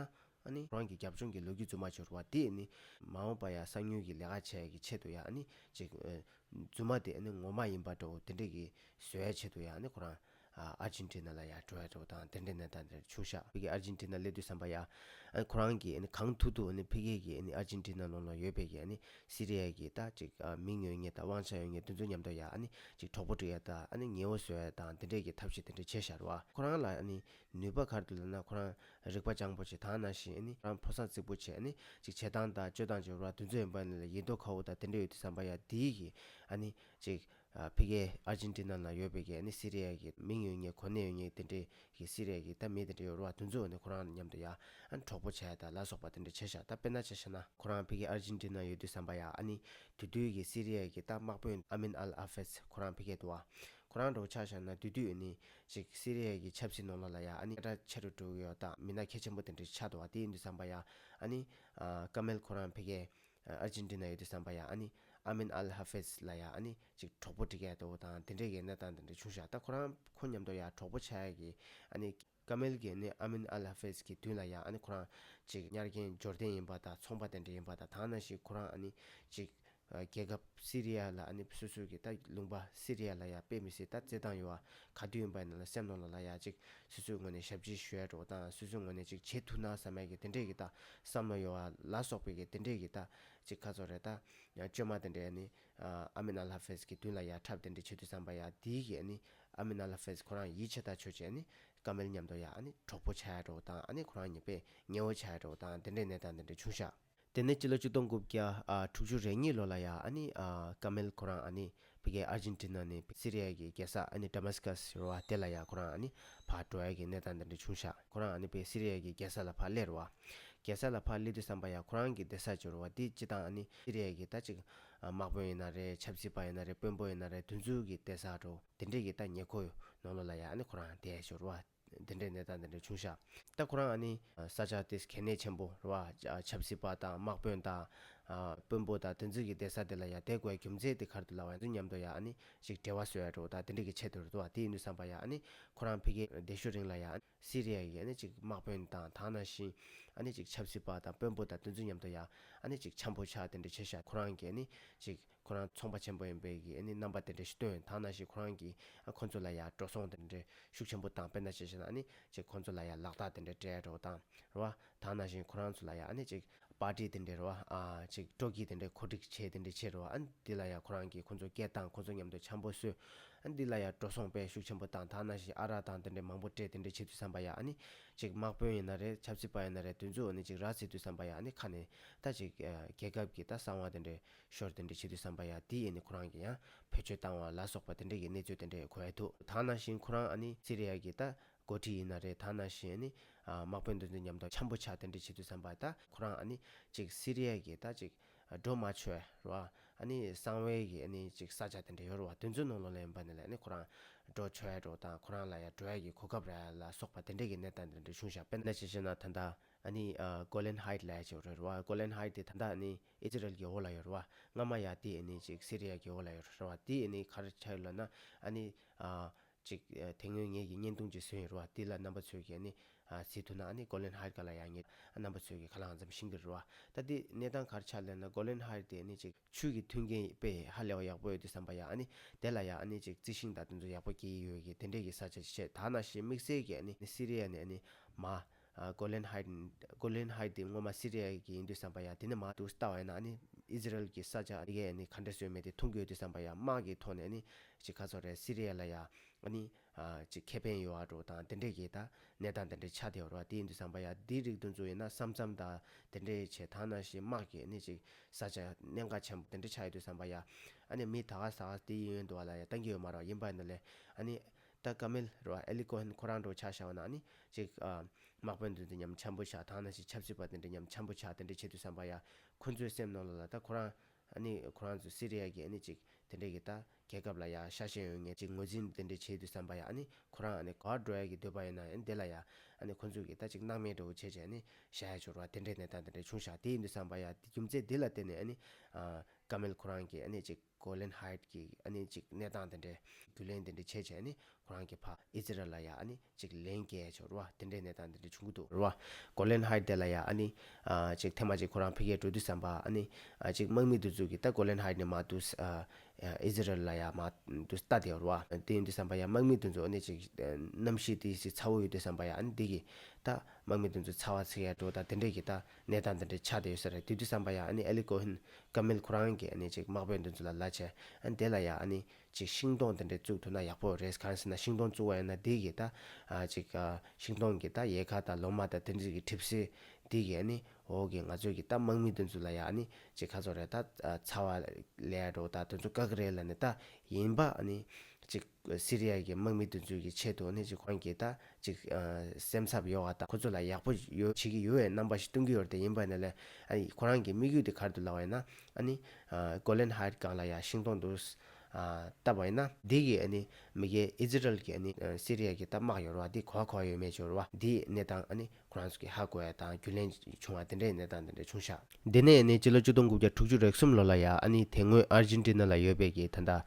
ཨ་ནི། རང་གི་རྒྱབ་ལྗོངས་ཀྱི་ལོ་རྒྱུས་རྫུན་མ་འབྱོར་བ་འདིས་ནི། མ་འོངས་པར་ཡང་གསང་ཉུལ་གྱི་ལས་ཀ་བྱས་ཀྱི་ཆེད་དུ་ཡང་ཨ་ནི། ཅིག། རྫུན་མ་དེ་ཨ་ནི་ངོ་མ་ཡིན་པ་འདྲ་བོ་དེ་འདྲ་གི་བཟོ་བའི་ཆེད་དུ་ཡང་ཨ་ནི་ཁོ་རང། ཨར་ཇིན་ཏི་ན་ལ་ཡང་འགྲོ་ཡ་འདྲ་བོ་དང་དེ་འདྲ་ནས་ད་འདིར་ཕྱུག་བཞག་ཕེ་གི་ཨར་ཇིན་ཏི་ན་སླེབས་དུས་བསམ་པ་ཡང། ཨ་ནི་ཁོ་རང་གིས་ཨ་ནི་གང་ཐུག་ཐུག་ཨ་ནི་ཕེ་གི་གིས་ཨ་ནི་ཨར་ཇིན་ཏི་ན་ལོག་ན་ཡོད་པའི་གི་ཨ་ནི། སི་རི་ཡའི་གི་ད་ཅིག། མིང་ཡོད་ངེས་དང་དབང་ཆ་ཡོད་ངེས་འདི་ཚོ་ཉམས་ཐོག་ཡང་ཨ་ནི། ཅིག་གྲོགས་པོ་བསྒྲིག་ཡ་དང་ཨ་ནི་ཉེ་བོ་བཟོ་ཡ་དང་དེ་འདྲའི་གི་ཐབས་ཤེས་དེ་འདྲ་བྱེད་བཞར་བ། ཁོ་རང་ལ་ཨ་ནི། ནུས་པ་གར་དུ་ལ་ན་ཁོ་རང། རིག་པ་སྤྱང་པོ་ཆེ་དང་ན་ཞེས་ནི་རང་ཕོ་སངས་རྩིག་པོ་ཆེ་ནི་ཅིག་བྱེད་སྟངས་དང་སྤྱོད་སྟངས་ཀྱི་བར་དུས་ཚོད་ཡིན་པ་ནི་ལ་ཡིད་རྟོག་ཁ་བོ་དང་དེ་འདྲ་ཡོད་དུས་བསམ་པ་ཡ་དེའི་གི་ཨ་ནི་ཅིག་ཕི་གེ་ཨར་ཇིན་ཏི་ན་ན་ཡོད་པའི་གི་ཨ་ནི་སི་རེ་ཡ་གི་མིང་ཡོད་ངེས་གོ་གནས་ཡོད་ངེས་དེ་འདྲའི་གི་སི་རེ་ཡ་གི་ད་མི་དེ་འདྲ་ཡོད་རུང་བ་དུས་ཚོད་ནི་ཁོ་རང་མཉམ་དུ་ཡ་ཨ་ནི་གྲོགས་པོ་ཆེ་ད་ལ་སོགས་པ་དེ་འདྲ་བྱས་ཤག་ད་དཔེར་ན་བྱས་ཤག་ན་ཁོ་རང་ཕི་གེ་ཨར་ཇིན་ཏི་ན་ཡོད་དུས་བསམ་པ་ཡ་ཨ་ནི་དུས་དུས་གི་སི་རེ་ཡ་གི་ད་དམག་དཔོན་ཨ་མིན་ཨལ་ཨ་ཧྥེས་ཁོ་རང་ཕི་གེ་དུ་བ་ཁོ་རང་འགྲོ་ཆགས་ཤག་ན་དུས་དུས་ཨ་ནི་ཅིག་སི་རི་ཡ་གི་ཆབ་སྲིད་ནོར་ལོག་ལ་ཡ་ཨ་ནི་ཀ་ཁྲ་ཆེ་རུ་འགྲོ་གི་ཡོད་སྟབས་མི་སྣ་ཁེ་ཆེན་པོ་དེ་འདྲའི་ཆགས་འདུག་བ་དེ་ཡིན་དུས་བསམ་པ་ཡ་ཨ་ནི། ཀ་མེལ་ཁོ་རང་ཕེ་གེ། ཨར་ཇིན་ཏི་ན་ཡོད་དུས་བསམ་པ་ཡ་ཨ་ནི། ཨ་མེན་ཨལ་ཧ་ཧྥེས་ལ་ཡ་ཨ་ནི་ཅིག་གྲོགས་པོ་འབྲི་ག་འདུག་དང་དེ་འདྲའི་གི་གནས་སྟངས་དེ་འདྲ་བྱུང་ཤག་ད་ཁོ་རང་ཁོ་མཉམ་དུ་ཡ་གྲོགས་པོ་ཆགས་གི་ཨ་ནི། ཀ་མེལ་གི་ནི་ཨ་མེན་ཨལ་ཧ་ཧྥེས་གི་དུས་ལ་ཡ་ཨ་ནི་ཁོ་རང། ཅིག་གཉར་རྒན་འབྱོར་ལྡན་ཡིན་པ་དང་ཚོང་པ་དེ་འདྲ་ཡིན་པ་དང་དང་ན་ཞིག་ཁོ་རང་ཨ་ནི། ཅིག། རྒྱལ་ཁབ་སི་རི་ཡ་ལ་ཨ་ནིབ་སོ་སོའི་གི་ད་ལུང་པ་སི་རི་ཡ་ལ་ཡ་དཔེ་མི་སེ་ད་རྩེ་ཐང་ཡོ་ག་དུས་ཡིན་པ་ཡིན་ན་ལ་སེམས་ནོར་ལ་ལ་ཡ་ཅིག་སི་སོའི་ངོས་ནས་ཞབས་ཕྱི་ཞུ་ཡ་འགྲོ་དང་སི་སོའི་ངོས་ནས་ཅིག་བྱེད་ཐུ་ན་ས་མས་གི་དེ་འདྲས་གི་ད་བསམ་ལོ་ཡོ་ལ་སོག་པའི་གི་དེ་འདྲས་གི་ད་ཅིག་ཁ་ཚོ་རེ་ད་བཅོས་མ་དེ་འདྲས་ཨ་ནི་ཨ་མི་ན་ལྷ་ཕེས་གི་དུས་ལ་ཡ་འཁྲབ་དེ་འདྲས་བྱེད་དུས་བསམ་པ་ཡ་དེའི་གི་ཨ་ནི་ཨ་མི་ན་ལྷ་ཕེས་ཁོ་རང་ཡིད་ཆེ་ད་ཆོས་ཅིག་ཨ་ནི་ཀ་མེལ་ཉམས་དོ་ཡ་ཨ་ནི་གྲོགས་པོ་བྱ་ཡ་འགྲོ་དང་ཨ་ནི་ཁོ་རང་ཉེ་པས་ཉེ་བོ་བྱ་ཡ་འགྲོ་དང་དེ་འདྲས་ནས་ད་དེ་འདྲས་ཆུང་ཤག། དེ་ནས་སྤྱི་ལོ་བཅུ་སྟོང་དགུ་བརྒྱ་དྲུག་ཅུ་རེ་གཉིས་ལོ་ལ་ཡ་ཨ་ནི་ཀ་མེལ་ཁོ་རང་ཨ་ནི་བྷི་གའི་ཨར་ཇིན་ཏི་ནཱ་ནི་སི་རི་ཡཱ་གི་རྒྱལ་ས་ཨ་ནི་ཏཱ་མཱ་སི་ཀཱ་སི་རུ་བ་དེ་ལ་ཡ་ཁོ་རང་ཨ་ནི་བྷ་ཏྲོ་ཨེལ་གྱི་གནས་སྟངས་འདི་འདྲ་བྱུང་ཤག་ཁོ་རང་ཨ་ནི་བྷི་སི་རི་ཡཱ་གི་རྒྱལ་ས་ལ་བྷ་སླེ་རུ་བ། རྒྱལ་ས་ལ་བྷ་སླེ་དུས་བསམ་པ་ཡ་ཁོ་རང་གི་སྡེ་ས་ཅི་རུ་བ་འདི་སྤྱི་དང་ཨ་ནི་སི་རི་ཡཱ་གི་ད་ཅིག་དམག་དཔོན་ཡིན་ན་རེ་ཆབ་སྲིད་པ་ཡིན་ན་རེ་དཔོན་པོ་ཡིན་ན་རེ་དུས་འཛུལ་གྱི་སྡེ་ས་ཏྲོ་དེ་འདྲེ་གི་ད་ཉེ་ཁོ་ཡོ་ནོ་ལོ་ལ་ཡ་ཨ་ནི་ཁོ་རང་དེ་ཅི་རུ་བ། འདི་འདྲའི་ནད་རྟགས་འདི་འདྲ་བྱུང་ཤག་ད་ཁོ་རང་ནི། ས་ཆ་དེ་གལ་གནད་ཆེན་པོ་རེད་བ། ཆབ་སྲིད་པ་དང་དམག་དཔོན་དང། དཔོན་པོ་དང་དེ་འཛིན་གྱི་སྡེ་ས་དེ་ལ་ཡང་དེ་དགོས་རྒྱུ་མཚན་དེ་གར་དུ་ལ་བ་ཡང་མཉམ་དུ་ཡང་ནི་ཅིག་བྲེལ་བ་བཟོས་ཡ་འགྲོ་ད་དེ་འདྲའི་གི་ཆེད་དུ་རེད་བ་དེ་ནི་བསམ་པ་ཡང་ནི་ཁོ་རང་ཕི་གེ་བདེ་ཤོ་རིང་ལ་ཡང་སི་རི་ཡ་གི་ཡང་ནི་ཅིག་དམག་དཔོན་དང་དང་ན་བཞིན། ཡང་ནི་ཅིག་ཆབ་སྲིད་པ་དང་དཔོན་པོ་དང་དེ་འཛིན་མཉམ་དུ་ཡང་ནི་ཅིག་ཆམ་པོ་ཆག་དེ་འདྲ་བྱས་ཤག་ཁོ་རང་གི་ཡང་ནི་ཅིག། ཁོ་རང་ཚོང་པ་ཆེན་པོ་ཡིན་པས་ཀྱི་ནི་རྣམ་པ་དེ་འདྲ་ཞིག་སྟོན་ཐང་ན་ཞིག་ཁོ་རང་གིས་ཁོ་ཚོ་ལ་ཡང་འགྲོ་སོང་དེ་འདྲའི་ཤུགས་ཆེན་པོ་དང་དཔེར་ན་བྱས་བྱས་ན་ནི་ཅིག་ཁོ་ཚོ་ལ་ཡང་ལག་རྟགས་དེ་འདྲ་སྤྲད་རོགས་དང་རོ། དང་ན་ཞིག་ཁོ་རང་ཚོ་ལ་ཡང་ནི་ཅིག་པར་ཏི་དེ་འདྲའི་རོ། ཅིག་སྤྲོ་སྐྱིད་དེ་འདྲའི་གོ་སྒྲིག་བྱས་དེ་འདྲའི་ཕྱིར་རོ། འདི་ལ་ཡང་ཁོ་རང་གིས་ཁོ་ཚོ་སྐད་དང་ཁོ་ཚོ་མཉམ་དུ་འཆམ་པོ་བཟོས། འདི་ལ་ཡང་འགྲོ་སོང་པས་ཤུགས་ཆེན་པོ་དང་དང་ན་ཞིག་ཨ་རག་དང་དེ་འདྲའི་མང་པོ་སྤྲད་དེ་འདྲའི་ཆེད་དུ་བསམ་པ་ཡང་ནི་ཅིག་དམག་དཔོན་ཡིན་ན་རེད་ཆབ་སྲིད་པ་ཡིན་ན་རེད་དུས་མཚུངས་ནི་ཅིག་རག་ཚིག་དུས་བསམ་པ་ཡང་ནི་ཁ་ནས་ད་ཅིག་རྒྱལ་ཁབ་ཀྱི་ད་གསང་བ་དེ་འདྲའི་ཤོར་དེ་འདྲས་བྱེད་དུས་བསམ་པ་ཡ་དེ་ཡིན་ནི་ཁོ་རང་གི་ཡང་བེད་སྤྱོད་བཏང་བ་ལ་སོགས་པ་དེ་འདྲས་ཀྱི་གནས་ཚུལ་དེ་འདྲས་གོ་ཨེ་ཐུབ། ད་ནང་བཞིན་ཁོ་རང་ཨ་ནི་སི་རེ་ཡ་གི་ད་མགོ་ཁྲིད་ཡིན་ན་རེད་ད་ནང་བཞིན་ཨ་ནི་དམག་དཔོན་འདི་ཚོའི་ཉམས་རྟོགས་འཁྱམས་པོ་ཆགས་དེ་འདྲས་བྱེད་དུས་བསམ་པ་ད་ཁོ་རང་ཨ་ནི་ཅིག་སི་རེ་ཡ་གི་ད་ཅིག་སྒྲོ་མ་ཆོད་རོ་ཨ་ནི་གསང་བའི་གི་ཨ་ནི་ཅིག་ས་ཆ་དེ་འདྲས་ཡོད་རོ་བ་དེ་ཚོའི་ནང་ལོག་ལེན་པ་ནི་ལ་ཨ་ནི་ཁོ་རང་སྒྲོ་ཆོད་རོ་ད་ཁོ་རང་ལ་ཡ་སྒྲོ་ཡ་གི་གོ་སྐབས་ར་ལ་སོགས་པ་དེ་འདྲས་ཀྱི་གནས་སྟངས་དེ་འདྲས་བྱུང་ཤག་དཔེ་ན་ཅིག་བྱས་ན་ད་ད་ཨ་ནི་ཀོ་ལན་ཧའེད་ལ་ཡ་ཅིག་རོད་རོ་བ་ཀོ་ལན་ཧའེད་དེ་ད་ད་ཨ་ནི། ཨི་ཛི་རལ་གྱི་ཨོ་ལ་ཡོར་བ་སྔ་མ་ཡ་དེ་ནི་ཅིག་སི་རི་ཡ་གྱི་ཨོ་ལ་ཡོར་བ་དེ་ནི་གར་ཆགས་ཡོད་ལ་ན་ཨ་ནི། ཅིག་དེ་སྔོན་ངེད་ཀྱི་བརྙན་ཐུང་ཅིག་བཟོས་ཡོད་ར་བ་དེ་ལ་རྣམ་པ་ཚོས་ཀྱིས་ནི་ཟིན་ཐུ་ན་ཨ་ནི་གོ་ལན་ཧའི་ག་ལ་ཡ་ངེད་རྣམ་པ་ཚོས་ཀྱིས་ག་ལ་འང་འཛམ་ཤིང་གི་རུ་བ་ད་དེ་གནས་སྟངས་གར་ཆགས་ལེན་ན་གོ་ལན་ཧའི་དེ་ནི་ཅིག་ཆུས་ཀྱི་མཐུན་རྐྱེན་དཔེ་ཧ་ལས་བ་ཡག་པོ་ཡོད་དུས་བསམ་པ་ཡ་ཨ་ནི་དེ་ལ་ཡ་ཨ་ནི་ཅིག་རྩི་ཤིང་དང་དེ་ཚོ་ཡག་པོ་སྐྱེ་ཡི་ཡོད་གི་དེ་འདྲས་ཀྱི་ས་ཆ་ཅིག་ཆེས་དག་ན་ཤིང་དམིགས་བསལ་གྱི་ཨ་ནི་སི་རི་ཡ་ནི་ཨ་ནི་མ། Golan Heights Golan Heights དེ་སྔོན་མ་སི་རི་ཡ་གི་ཡིན་དུས་བསམ་པ་ཡང་དེ་ནི་མ་འདུག་ལྟ་བ་ཡིན་ན་ནི་ཨིས་ར་ཨེལ་གྱི་ས་ཆ་དེ་གས་ནི་ག་འདྲ་སོས་མེད་དེ་འཐུང་དགོས་དུས་བསམ་པ་ཡང་དམག་གི་ཐོག་ནས་ནི་ཅི་ག་ཚོད་རེད་སི་རི་ཡ་ལ་ཡང་ནི་ཅི་ཁེ་ཕན་ཡོད་ཨ་འགྲོ་དང་དེ་འདྲས་གས་ད་གནས་སྟངས་དེ་འདྲས་ཆགས་བསྡད་རོགས་དེ་ཡིན་དུས་བསམ་པ་ཡང་དེའི་རིགས་འདུ་འཛོ་ཡིན་ན་བསམ་བསམ་ད་དེ་འདྲས་བྱས་ད་ནང་བཞིན་དམག་གས་ནི་ཅིག་ས་ཆ་གནས་འགག་ཆེན་པོ་དེ་འདྲས་ཆགས་ཡོད་དུས་བསམ་པ་ཡང་ཨ་ནི་མི་ད་ག་ས་ག་དེ་ཡིན་ཡོད་འདུག་ཨ་ལ་ཡང་ལྟ་གི་ཡོད་མ་རོགས་ཡིན་པ་ནི་ལས་ཨ་ནི་ད་ག་མེལ་རོ་ཨེ་ལི་ཀོ་ཧན་ཁོ་རང་འགྲོ་འཆག་བྱ་བ་ན་ནི་ཅིག། དམག་དཔོན་དུ་འདི་ཉམས་འཆམ་པོ་བྱ་ཐང་ན་ཞིག་ཆབ་སྲིད་པ་དེ་འདྲ་ཉམས་འཆམ་པོ་བྱ་དེ་འདྲ་བྱེད་དུ་བསམ་པ་ཡ། ཁོ་ཚོའི་སེམས་ནང་ལ་ལ་ད་ཁོ་རང། ཨ་ནི་ཁོ་རང་ཚོ་སི་རི་ཡ་གི་ཨ་ནི་ཅིག་དེ་འདྲ་གི་ད་རྒྱལ་ཁབ་ལ་ཡ་ཤ་ཞེན་ཡོད་ངེས་ཅིག་ངོས་འཛིན་དེ་འདྲ་བྱེད་དུ་བསམ་པ་ཡ་ཨ་ནི་ཁོ་རང་ཨ་ནི་ག་བ་འགྲོ་ཡ་གི་འདོད་པ་ཡིན་ན་ཡ་འདི་ལ་ཡ། ཨ་ནི་ཁོ་ཚོ་གི་ད་ཅིག་སྣང་མེད་འདྲ་བོ་བྱེད་ཅིག་ཨ་ནི་བྱ་ཡ་འཆོར་བ་དེ་འདྲའི་གནས་སྟངས་དེ་འདྲ་བྱུང་ཤག་དེ་ཡིན་དུ་བསམ་པ་ཡ་རྒྱུ་མཚན་དེ་ལ་བརྟེན་ནས་ཨ་ནི། ཨ། ག་མེལ་ཁོ་རང་གིས་ཨ་ནི་ཅིག། གོ་ལན་ཧཱིད་ཀྱིས་ཨ་ནི་ཅིག་གནས་སྟངས་དེ་འདྲའི་རྒྱུ་ལན་དེ་འདྲའི་བྱས་བྱས་ནི་ཁོ་རང་གི་ཕ་ཨི་ཛི་རལ་ལ་ཡ་ཨ་ནི་ཅིག་ལན་བཀལ་ཆོག་རུ་བ་དེ་འདྲའི་གནས་སྟངས་དེ་འདྲའི་བྱུང་གི་འདུག་རུ་བ། གོ་ལན་ཧཱིད་དེ་ལ་ཡ་ཨ་ནི་ཅིག་ཐེངས་མ་ཅིག་ཁོ་རང་ཕི་གས་འགྲོ་དུས་བསམ་པ་ཨ་ནི་ཅིག་དམག་མི་འདུ་འཛུགས་ཀྱིས་ད་གོ་ལན་ཧཱིད་ནི་མ་འདུས་ཨ་ཨི་ཛི་རལ་ལ་ཡ་མ་འདུས་ལྟ་དེ་རུ་བ། དེ་ཡིན་དུས་བསམ་པ་ཡ་དམག་མི་འདུ་འཛུགས་ཨ་ནི་ཅིག་གནམ་གཤིས་དེ་ཅིག་ཚ་བོ་ཡོད་དུས་བསམ་པ་ཡ་ཨ་ནི་དེ་གིས་ད་དམག་མི་འདུ་འཛུགས་ཚ་བ་ཚི་གས་འགྲོ་ད་དེ་འདྲས་ཀྱིས་ད། གནས་སྟངས་འདི་འདྲའི་ཆ་དེ་ཡོད་ས་རེད་དུས་དུས་བསམ་པ་ཡ་ཨ་ནི་ཨེ་ལི་ཀོ་ཧིན། ཀ་མེལ་ཁོ་རང་གིས་ཨ་ནི་ཅིག་དམག་དཔོན་འདི་ཚོ་ལ་ལ་ཆས། ཨ་ནི་དེ་ལ་ཡ་ཨ་ནི། ཅིག་ཤིང་སྡོང་འདི་འདྲའི་བཙུགས་ཐུབ་ན་ཡག་པོ་རེད་གང་ཟེར་ན་ཤིང་སྡོང་བཙུགས་བ་ཡིན་ན་འདི་གིས་ད། ཨ་ཅིག། ཤིང་སྡོང་གིས་ད་ཡལ་ག་དང་ལོ་མ་དང་དེ་འདྲི་གིས་འཁྲིབ་སྲིད། འདི་གིས་ཨ་ནི། འོ་གིས་ང་ཚོ་གིས་ད་དམག་མི་འདི་ཚོ་ལ་ཡ་ཨ་ནི་ཅིག་ཁ་ཚོར་རེད་ད། ཚ་བ། ལས། རོ་ད་དེ་ཚོ་དཀག་གི་རེད་ལ་ནི་ད། ཡིན་པ་ཨ་ནི། ཅིག། སི་རི་ཡ་གི་དམག་མི་འདུ་འཛོལ་གྱི་ཆེད་དུ་ནི་ཅིག་ཁོང་གིས་ད་ཅིག་སེམས་འཚབ་ཡོང་བ་དང་ཁོ་ཚོ་ལ་ཡག་པོ་ཡོད་བྱེད་ཀྱི་ཡོད་བའི་རྣམ་པ་ཞིག་སྟོན་གྱི་ཡོད་དེ་ཡིན་པ་ནི་ལས་ཨ་ཡིས་ཁོ་རང་གི་དམིགས་ཡུལ་དེ་གར་དུ་ལངས་བ་ཡིན་ན་ནི། གོ་ལན་ཧཱ་ཡིད་སྒང་ལ་ཡང་ཤིང་སྡོང་དུ་བཏབ་པ་ཡིན་ན། འདི་གི་ནི་མི་རྒན་ཨི་ཛི་རལ་གྱི་ནི་སི་རི་ཡ་གི་ད་དམག་ཡོར་བ་འདི་གོ་བ་གོ་བ་ཡོད་མེད་ཅོར་བ་འདིའི་གནས་སྟངས་ནི་ཁོ་རང་ཚོ་གི་ཧ་གོ་བའི་དང་རྒྱུན་ལས་བྱུང་བ་དེ་འདྲའི་གནས་སྟངས་དེ་འདྲ་བྱུང་ཤག། དེ་ནས་ནི་སྤྱི་ལོ་བཅུ་སྟོང་དགུ་བརྒྱ་དྲུག་ཅུ་རེག་གསུམ་ལོ་ལ་ཡ་ཨ་ནི་དེ་སྔོན་ཨར་ཇིན་ཏི་ནཱ་ལ་ཡོད་པའི་གི་ད་ལྟ།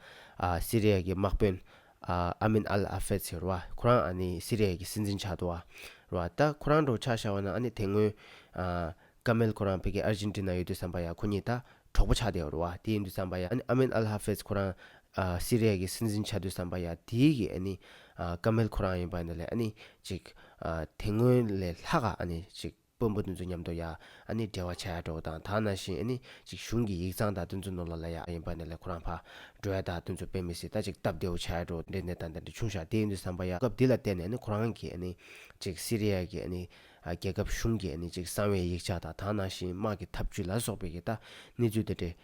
སི་རེ་ཡ་གི་དམག་དཔོན། ཨ་མིན་ཨལ་ཨ་ཧྥེད་ཟེར་བ་ཁོ་རང་ཨ་ནི་སི་རེ་ཡ་གི་སྲིད་འཛིན་ཆགས་འདུག་བ། རོ་ཨ་ད་ཁོ་རང་འགྲོ་ཆགས་ཤག་བ་ན་ཨ་ནི་དེ་སྔོན། ཀ་མེལ་ཁོ་རང་བོད་ཀྱི་ཨར་ཇིན་ཏི་ན་ཡོད་དུས་བསམ་པ་ཡང་ཁོ་གཉིས་ད་གྲོགས་པོ་ཆགས་བསྡད་འོར་བ་དེ་ཡིན་དུས་བསམ་པ་ཡང་ཨ་མེན་ཨལ་ཧ་ཕེས་ཁོ་རང་སི་རི་ཡ་གི་སྲིད་འཛིན་ཆགས་དུས་བསམ་པ་ཡང་དེའི་གི་ཨ་ནི་ཀ་མེལ་ཁོ་རང་ཡིན་པ་འདི་ལས་ཨ་ནི་ཅིག་དེ་སྔོན་ལས་ལྷག་ག་ཨ་ནི་ཅིག་དཔོན་པོ་འདི་ཚོ་མཉམ་དུ་ཡ་ཨ་ནི་འབྲེལ་བ་བྱ་ཡ་འགྲོ་དང་དག་ན་བཞིན་ཨ་ནི་ཅིག་གཞུང་གི་ཡིག་ཚང་དག་དུས་ཚོད་ནོར་ལ་ལ་ཡ་ཨ་ཡིན་པ་འདི་ལས་ཁོ་རང་ཕ་འགྲོ་ཡ་དག་དུས་ཚོད་དཔེ་མི་སྲིད་ད་ཅིག་སྟབས་བདེ་བོ་བྱ་ཡ་འགྲོ་འདྲེ་འདྲེ་ད་འདྲེ་འདྲེ་ཆུང་ཞག་དེ་ཡིན་དུས་བསམ་པ་ཡང་སྐབས་འདི་ལ་བལྟས་ནས་ཨ་ནི་ཁོ་རང་གི་ཨ་ནི་ཅིག་སི་རི་ཡ་གི་ཨ་ནི་རྒྱལ་ཁབ་གཞུང་གིས་ནི་ཅིག་གསང་བའི་ཡིག་ཆ་དང་དག་སྣང་ཞིང་དམག་གི་འཐབ་ཇུས་ལ་སོགས་པའི་ཀྱི་ད་ནི་ཚུལ་དེ་འདྲའི།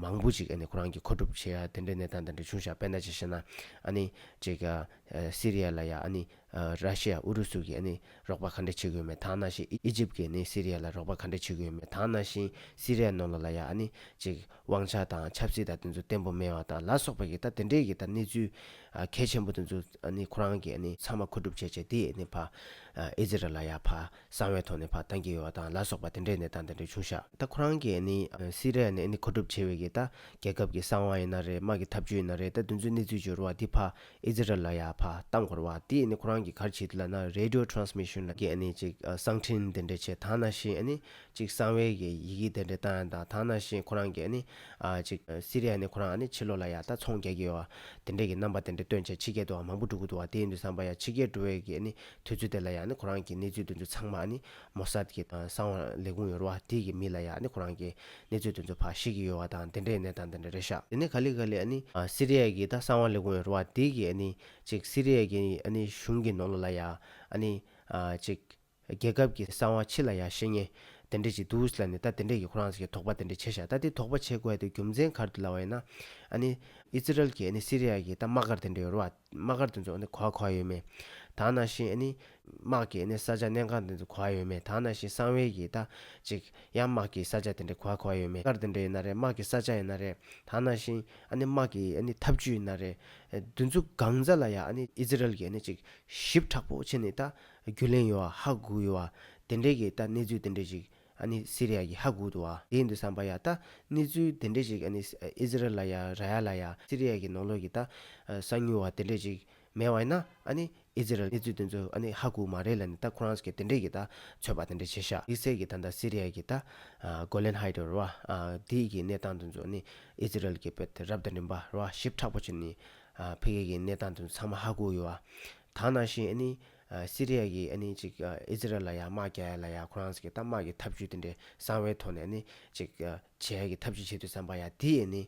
མང་པོ་ཅིག་ནི་ཁོ་རང་གི་མཁོ་སྒྲུབ་བྱེད་ཡ་དེ་འདྲའི་གནས་སྟངས་དེ་འདྲ་བྱུང་ཞག་དཔེར་ན་ཅིག་བཤད་ན་ནི་ཅིག། སི་རི་ཡ་ལ་ཡ་ནི་ར་ཤི་ཡ་ཨུ་རུ་སུ་གིས་ནི་རོགས་པ་ག་འདྲས་བྱེད་དགོས་མེད་དག་སྣང་ཞིང་ཨི་ཇིབ་ཀྱིས་ནི་སི་རི་ཡ་ལ་རོགས་པ་ག་འདྲས་བྱེད་དགོས་མེད་དག་སྣང་ཞིང་སི་རི་ཡ་ནོར་ལོ་ལ་ཡ་ནི་ཅིག། དབང་ཆ་དང་ཆབ་སྲིད་དང་དེ་ཚོ་བརྟན་པོ་མེད་བ་དང་ལ་སོགས་པ་ཡི་ད་དེ་འདྲས་ཀྱི་ད་གནས་ཚུལ་གལ་ཆེན་པོ་དེ་ཚོ་ནི་ཁོ་རང་གིས་ནི་ཚང་མ་མཁོ་སྒྲུབ་བྱས་བྱས་དེས་ནི་ཕ་ཨི་ཛི་རལ་ལ་ཡ་ཕ་གསང་བའི་ཐོག་ནས་ཕ་བཏང་གི་ཡོད་བ་དང་ལ་སོགས་པ་དེ་འདྲས་ནས་ད་དེ་འདྲས་བྱུང་ཤག་ད་ཁོ་རང་གིས་ནི་སི་རལ་ནི་ནི་མཁོ་སྒྲུབ་བྱས་བའི་གི་ད་རྒྱལ་ཁབ་ཀྱི་གསང་བ་ཡི་ན་རེད་དམག་གི་ཐབས་ཇུས་ཡི་ན་རེད་ད་དེ་ཚོའི་གནས་ཚུལ་བྱོ་རུ་བ་དེ་ཕ་ཨི་ཛི་རལ་ལ་ཡ་ཕ་བཏང་དགོ་རུ་བ་དེས་ནི་ཁོ་རང་གིས་གར་བྱས་དེ་ལ་ན་རེ་རེ་ལྡིའོ་ཏྲོན་སི་མི་ཤུན་ལ་གི་ནི་ཅིག་གསང་འཕྲིན་དེ་འདྲས་བྱས་ད་ན་ཤི་ནི་ཅིག་གསང་བའི་ཡི་གེ་དེ་འདྲའི་བཏང་ཡང་དང་ཐང་ན་ཤེས་ཁོ་རང་གིས་ནི། ཅིག་སི་རི་ཡ་ནི་ཁོ་རང་ནི་ཕྱི་ལོག་ལ་ཡང་དང་ཚོང་རྒྱག་གི་ཡོད་བ། དེ་འདྲས་ཀྱི་རྣམ་པ་དེ་འདྲ་སྟོན་བྱེད་ཕྱི་རྒྱལ་དུའང་མང་པོ་འགྲོ་གི་འདུག་བ་དེ་ཡིན་དུ་བསམ་པ་ཡང་ཕྱི་རྒྱལ་འགྲོ་བའི་གི་ནི་དུས་ཚོད་དེ་ལ་ཡང་ནི་ཁོ་རང་གིས་གནས་ཚུལ་དེ་ཚོ་ཚང་མ་ནི་མོ་སཱད་ཀྱི་གསང་བ་ལས་ཁུངས་ཡོར་བ་དེ་ཀྱི་མི་ལ་ཡང་ནི་ཁོ་རང་གིས་གནས་ཚུལ་དེ་ཚོ་ཕ་ཤེས་ཀྱི་ཡོད་བ་དང་དེ་འདྲའི་གནས་སྟངས་དེ་འདྲ་རེད་ཤག། དེ་ནས་ག་ལི་ག་ལི་ནི་སི་རི་ཡ་ཀྱི་དང་གསང་བ་ལས་ཁུངས་ཡོར་བ་དེ་ཀྱི་ནི་ཅིག་སི་རི་ཡ་ཀྱི་ནི་གཞུང་གི་ནོར་ལོ་ལ་ཡང་ནི། ཅིག། རྒྱལ་ཁབ་ཀྱི་གསང་བ་ཕྱི་ལ་ཡང་བཤད་ཉེས། དེ་འདྲས་ཅིག་འདུག་བཞི་ལ་ནི་ད་དེ་འདྲས་ཀྱི་ཁོ་རང་ས་ཀྱི་དོགས་པ་དེ་འདྲས་བྱེད་བཞག་ད་དེ་དོགས་པ་བྱེད་དགོས་ཡ་དེ་རྒྱུ་མཚན་གར་དུ་ལ་བ་ཡིན་ན། ཨ་ནི། ཨིསི་རཱཨེལ་གྱི་ཨ་ནི་སི་རི་ཡཱ་གྱི་ད་དམག་སྒར་དེ་འདྲས་ཡོད་རུ་བ། དམག་སྒར་དེ་ཚོ་ཨ་ནི་གོ་བ་གོ་བ་ཡོད་མེད། དག་ན་བཞིན་ཨ་ནི། དམག་གི་ཨ་ནི་ས་ཆ་གནས་ཁང་དེ་ཚོ་གོ་བ་ཡོད་མེད་དག་ན་བཞིན་གསང་བའི་གྱི་ད། ཅིག། ཡང་དམག་གི་ས་ཆ་དེ་འདྲས་གོ་བ་གོ་བ་ཡོད་མེད་སྒར་དེ་འདྲས་ཡིན་ན་རེད་དམག་གི་ས་ཆ་ཡིན་ན་རེད། དག་ན་བཞིན། ཨ་ནི་དམག་གི་ཨ་ནི་འཐབ་ཇུས་ཡིན་ན་རེད། བདུན་ཚོ་གང་ཛ་ལ་ཡ་ཨ་ནི་ཨིསི་རཱཨེལ་གྱི་ཨ་ནི་ཅིག། ཞིབ་ཕྲག་པོ་བྱེད་ནི་ད། རྒྱུས་ལེན་ཡོད་ཨ་ཧ་གུ་ཡོད་ཨ། དེ་འདྲས་ཀྱི་ད་གནས་ཚུལ་དེ་འདྲས་ཞིག་ཨ་ནི་སི་རི་ཡ་གི་ཧ་གུ་དུ་ཨ། དེ་ཡིན་དུ་བསམ་པ་ཡ་ད་གནས་ཚུལ་དེ་འདྲས་ཞིག་ཨ་ནི་ཨི་ཟི་རལ་ལ་ཡ་ར་ཡ་ལ་ཡ་སི་རི་ཡ་གི་ནང་ལོགས་ཀྱི་ད་གསང་ཉུལ་བ་དེ་འདྲས་ཞིག་མེད་བ་ཡིན་ན་ཨ་ནི་ཨི་ཟི་རལ་གནས་ཚུལ་དེ་ཚོ་ཨ་ནི་ཧ་གུ་མ་རེད་ལ་ནི་ད་ཁོ་རང་གི་དེ་འདྲས་ཀྱི་ད་ཚོད་པ་དེ་འདྲས་བྱེད་ཤག་ཡིག་ཚད་ཀྱི་ད་ད་སི་རི་ཡ་གི་ད་གོ་ལན་ཧ་ཡི་དོ་ར་བ་དེའི་གི་གནས་སྟངས་དེ་ཚོ་ཨ་ནི་ཨི་ཟི་རལ་གྱི་བོད་དེ་རབ་དང་རིམ་པ་ར་བ་ཞིབ་ཕྲག་པོ་བྱེད་ནི་ཨ་ཕི་གེ་གི་གནས་སྟངས་དེ་ཚོ་ཚང་མ་ཧ་གུ་ཡོད་ཨ། ད་ནང་བཞིན་ཨ་ནི། སི་རི་ཡཱ་གིས་ཨ་ནི་ཅིག་ཨི་ཟི་རེལ་ལ་ཡར་དམག་རྒྱག་ཡ་ལ་ཡར་ཁོ་རང་ས་གི་གཏའ་དམག་གི་ཐབས་ཇུས་དེ་འདྲའི་གསང་བའི་ཐོག་ནས་ཨ་ནི་ཅིག་བྱེད་ཡ་གི་ཐབས་ཇུས་བྱེད་དུས་བསམ་པ་ཡ་དེ་ཨ་ནི་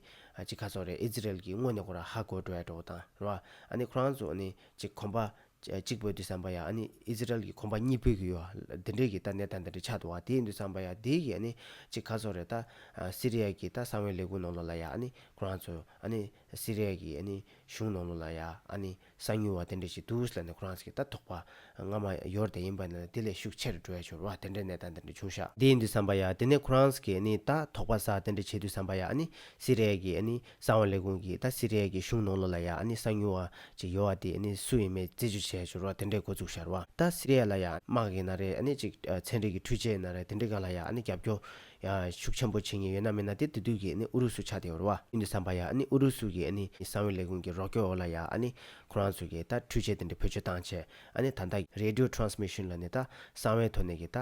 ཅིག་ཁ་སོག་རེད་ཨི་ཟི་རེལ་གིས་དངོས་ནས་ཁོ་ར་ཧ་གོ་འགྲོ་ཡ་འགྲོ་གོ་དང་ར་བ། ཨ་ནི་ཁོ་རང་ཚོ་ཨ་ནི་ཅིག་གོམ་པ། གཅིག་སྤོད་དུས་བསམ་པ་ཡ་ཨ་ནི་ཨི་ཟི་རེལ་གིས་གོམ་པ་གཉིས་སྤོད་གི་ཡོད་ལ་དེ་འདྲའི་གི་ད་གནས་སྟངས་དེ་འདྲའི་ཆགས་འདུག་ཨ་དེ་ཡིན་དུས་བསམ་པ་ཡ་དེ་གི་ཨ་ནི་ཅིག་ཁ་སོག་རེད་ད། སི་རི་ཡཱ་གི་ད་གསང་བའི་ལས་ཁུངས་ནང་ལོག་ལ་ཡ་ཨ་ནི་ཁོ་རང་ཚོ་ཨ་ནི་སི་རི་ཡཱ་གི་ཨ་ནི་གཞུང་ནང་ལོག་ལ་ཡ་ཨ་ནི། གསང་མྱུལ་བ་དེ་འདྲ་ཞིག་འདུག་ལ་ནི་ཁོ་རང་ཚོ་གི་ལྟ་རྟོག་པ་སྔ་མ་ཡོར་དེ་ཡིན་པ་ནི་དེ་ལས་ཤུགས་ཆེ་རུ་འགྲོ་ཡ་ཞོར་བ་དེ་འདྲའི་གནས་སྟངས་དེ་འདྲ་བྱུང་ཤག་འདི་ཡིན་དུས་བསམ་པ་ཡ་དེ་ནས་ཁོ་རང་ཚོ་གི་ནི་ལྟ་རྟོག་པ་ས་དེ་འདྲ་བྱེད་དུས་བསམ་པ་ཡ་ནི་སི་རེ་ཡལ་གི་ནི་གསང་བ་ལས་ཁུངས་ཀྱི་ད་སི་རེ་ཡལ་གི་གཞུང་ནང་ལོ་ལ་ཡ་ནི་གསང་མྱུལ་བ་ཅིག་ཡོར་བ་དེ་ནི་སུ་ཡིན་མེད་རྩད་གཅོད་བྱེད་ཡ་ཞོར་བ་དེ་འདྲའི་འགོ་བཙུགས་ཤར་བ་ད་སི་རེ་ཡལ་ལ་ཡ་དམག་གི་ན་རེ་ནི་ཅིག་ཚན་རིག་གི་འཕྲུལ་ཆས་ན་རེ་དེ་འདྲ་ག་ལ་ཡ་ནི་རྒྱབ་སྐྱོར་ཡང་ཤུགས་ཆེན་པོ་བྱེད་ངེས་ཡོད་ན་མིན་ན་དེ་དུས་དུས་ཀྱི་ཨུ་རུ་སུ་ཆགས་ཏེ་འོར་བ་ཨིན་དུ་སམ་བ་ཡ་ཨུ་རུ་སུ་གི་གསང་བའི་ལས་ཁུངས་ཀྱི་རོགས་སྐྱོར་འོག་ལ་ཡ་ཁོ་རང་ཚོ་གིས་ད་འཕྲུལ་ཆས་དེ་འདྲ་བེད་སྤྱོད་བཏང་ཆེད་ད Radio Transmission ལ་ནས་ད་གསང་བའི་ཐོག་ནས་ཀྱི་ད་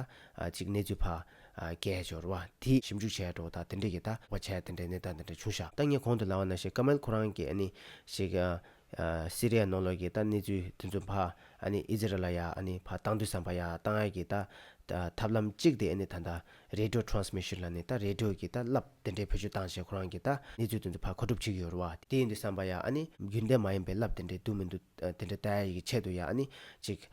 ཅིག་གནས་ཚུལ་ཕ་སྐད་བྱས་འོར་བ་དེ་ཞིབ་འཇུག་བྱས་འགྲོ་ད་དེ་འདྲ་གི་ད་བ་ཆས་དེ་འདྲ་ནས་ད་འདི་འདྲ་བྱུང་ཤག་ད་ངས་གོང་དུ་ལ་བ་ན་ཤེ་ཀ་མལ་ཁོ་རང་གི་ཤེ་ཀ་སི་རི་ཡའི་ནང་ལོགས་ཀྱི་ད་གནས་ཚུལ་དེ་ཚོ་ཕ་ཨི་ཛི་རེ་ལ་ཡ་ཕ་སྟངས་འདུས་སམ་ཕ་ཡ་སྟངས་ཨ་ཀྱི་ད་ཐབས་ལམ་གཅིག་དེ་ཨ་ད་རེ་དྲོད Transmission ལ་ནི་ད་རེ་དྲོད་ཀྱི་ད་རླབས་དེ་འདྲའི་བེད་སྤྱོད་སྟངས་ཞེས་ཁོ་རང་གི་ད་གནས་ཚུལ་དེ་ཚོ་ཕ་གོ་སྒྲུབ་བྱེད་ཀྱི་ཡོད་རུ་བ་དེ་ཡིན་འདུས་སམ་ཕ་ཡ་རྒྱུན་ལྡན་མ་ཡིན་པའི་རླབས་དེ་འདྲའི་འདུག་མི་འདུག་དེ་འདྲའི་ད་ཡ་ཡི་གི་ཆེད་དུ་ཡ་ཅིག་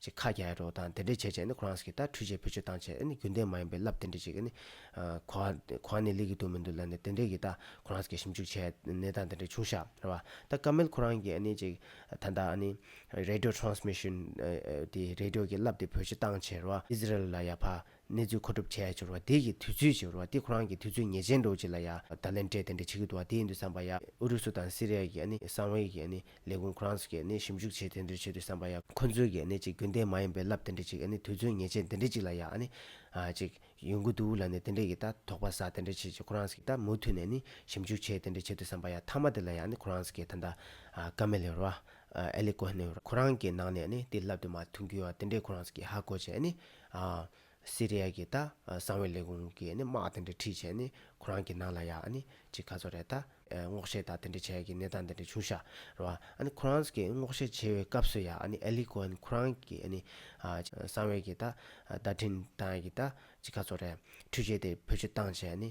ཅིག་ཁ་རྒྱ་ཡ་རོ་དང་དེ་འདྲས་བྱས་བྱས་ནི་ཁོ་རངས་ཀྱི་ད་འཁྲུས་བྱས་བུ་ཆུ་བཏང་བྱས་ཨ་ནི་རྒྱུན་ལྡན་མ་ཡིན་པའི་རླབས་དེ་འདྲས་ཅིག་ཨ་ནི། གོ་བ་གོ་བ་ནི་ལེགས་ཀྱི་དུག་མི་འདུག་ལ་ནི་དེ་འདྲས་ཀྱི་ད་ཁོ་རངས་ཀྱི་ཞིབ་འཇུག་བྱས་ནས་ད་དེ་འདྲས་བྱུང་ཤག་རེད་བ་ད་སྐབས་མལ་ཁོ་རངས་ཀྱི་ཨ་ནི་ཅིག་ད་ད་ཨ་ནི། Radio Transmission། དེ་རེ་ལྡིོ་ཀྱི་རླབས་དེ་བུ་ཆུ་བཏང་བྱས་རེད་བ་ཨིས་རལ་ལ་ཡ་ཕ་གནས་ཚུལ་མཁོ་སྒྲུབ་བྱས་ཡ་འབྱོར་བ་དེ་ཡི་དུས་ཚོད་ཅིག་རོ་བ་དེ་ཁོ་རང་གི་དུས་ཚོད་ངེས་ཅན་འགྲོ་ཅིག་ལ་ཡ་ད་ལན་དྲས་དེ་འདྲ་བྱེད་ཀྱི་འདུག་བ་དེ་ཡིན་དུ་བསམ་པ་ཡ་ཨུ་རུ་སུ་དང་སི་རེ་ཡ་གི་ཨ་ནི་གསང་བའི་གི་ཨ་ནི་ལས་ཁུངས་ཁོ་རང་ཚོ་གི་ཨ་ནི་ཞིབ་འཇུག་བྱེད་དེ་འདྲ་བྱེད་དུ་བསམ་པ་ཡ་ཁོ་ཚོའི་གི་ཨ་ནི་ཅིག་རྒྱུན་ལྡན་མ་ཡིན་པའི་རླབས་དེ་འདྲ་ཅིག་ཨ་ནི་དུས་ཚོད་ངེས་ཅན་དེ་འདྲ་ཅིག་ལ་ཡ་ཨ་ནི་ཨ་ཅིག་ཡོང་གི་འདུག་ལ་ནི་དེ་འདྲ་གི་ད་དོགས་པ་ས་དེ་འདྲ་བྱེད་ཅིག་ཁོ་རང་ཚོ་གི་ད་མུ་མཐུད་ནས་ཨ་ནི་ཞིབ་འཇུག་བྱེད་དེ་འདྲ་བྱེད་དུ་བསམ་པ་ཡ་མཐའ་མ་དེ་ལ་ཡ་ཨ་ནི་ཁོ་རང་ཚོ་གི་ད་ད་ཀ་མེ་ལེ་རོ་བ་ཨ་ཨེ་ལེ་ཀོ་ཧེ་ནེ་རོ་བ་ཁོ་རང་གི་ནང་ནས་ཨ་ནི་དེ་རླབས་དེ་མ་ཐུག་གི་ཡོ་བ་དེ་འདྲས་ཁོ་རང་ཚོ་གི་ཧ་གོ་ཅིག་ཨ་ནི་སི་རེ་ཡཱ་གི་ད་སང་བའི་ལས་ཁུངས་ཀྱིས་དམག་དེ་འདྲ་ཁྲིད་བྱས་ནས་ཁོ་རང་གི་ནང་ལ་ཡ་ནི་ཅིག་ག་ཚོད་རེད་ད་སྔོག་བཤེར་དང་དེ་འདྲ་བྱས་ཀྱི་གནས་སྟངས་དེ་འདྲ་བྱུང་ཤག་རོ་ཨ་ནི་ཁོ་རང་གིས་སྔོག་བཤེར་བྱེད་པའི་སྐབས་སུ་ཡ་ནི་ཨེ་ལི་ཀོ་ཧན་ཁོ་རང་གིས་ནི་སང་བའི་གི་ད་བརྡ་འཕྲིན་དང་གི་ད་ཅིག་ག་ཚོད་རེད་ཁྲུས་བྱས་ཏེ་བོད་སྤྱི་བཏང་བྱས་ནི།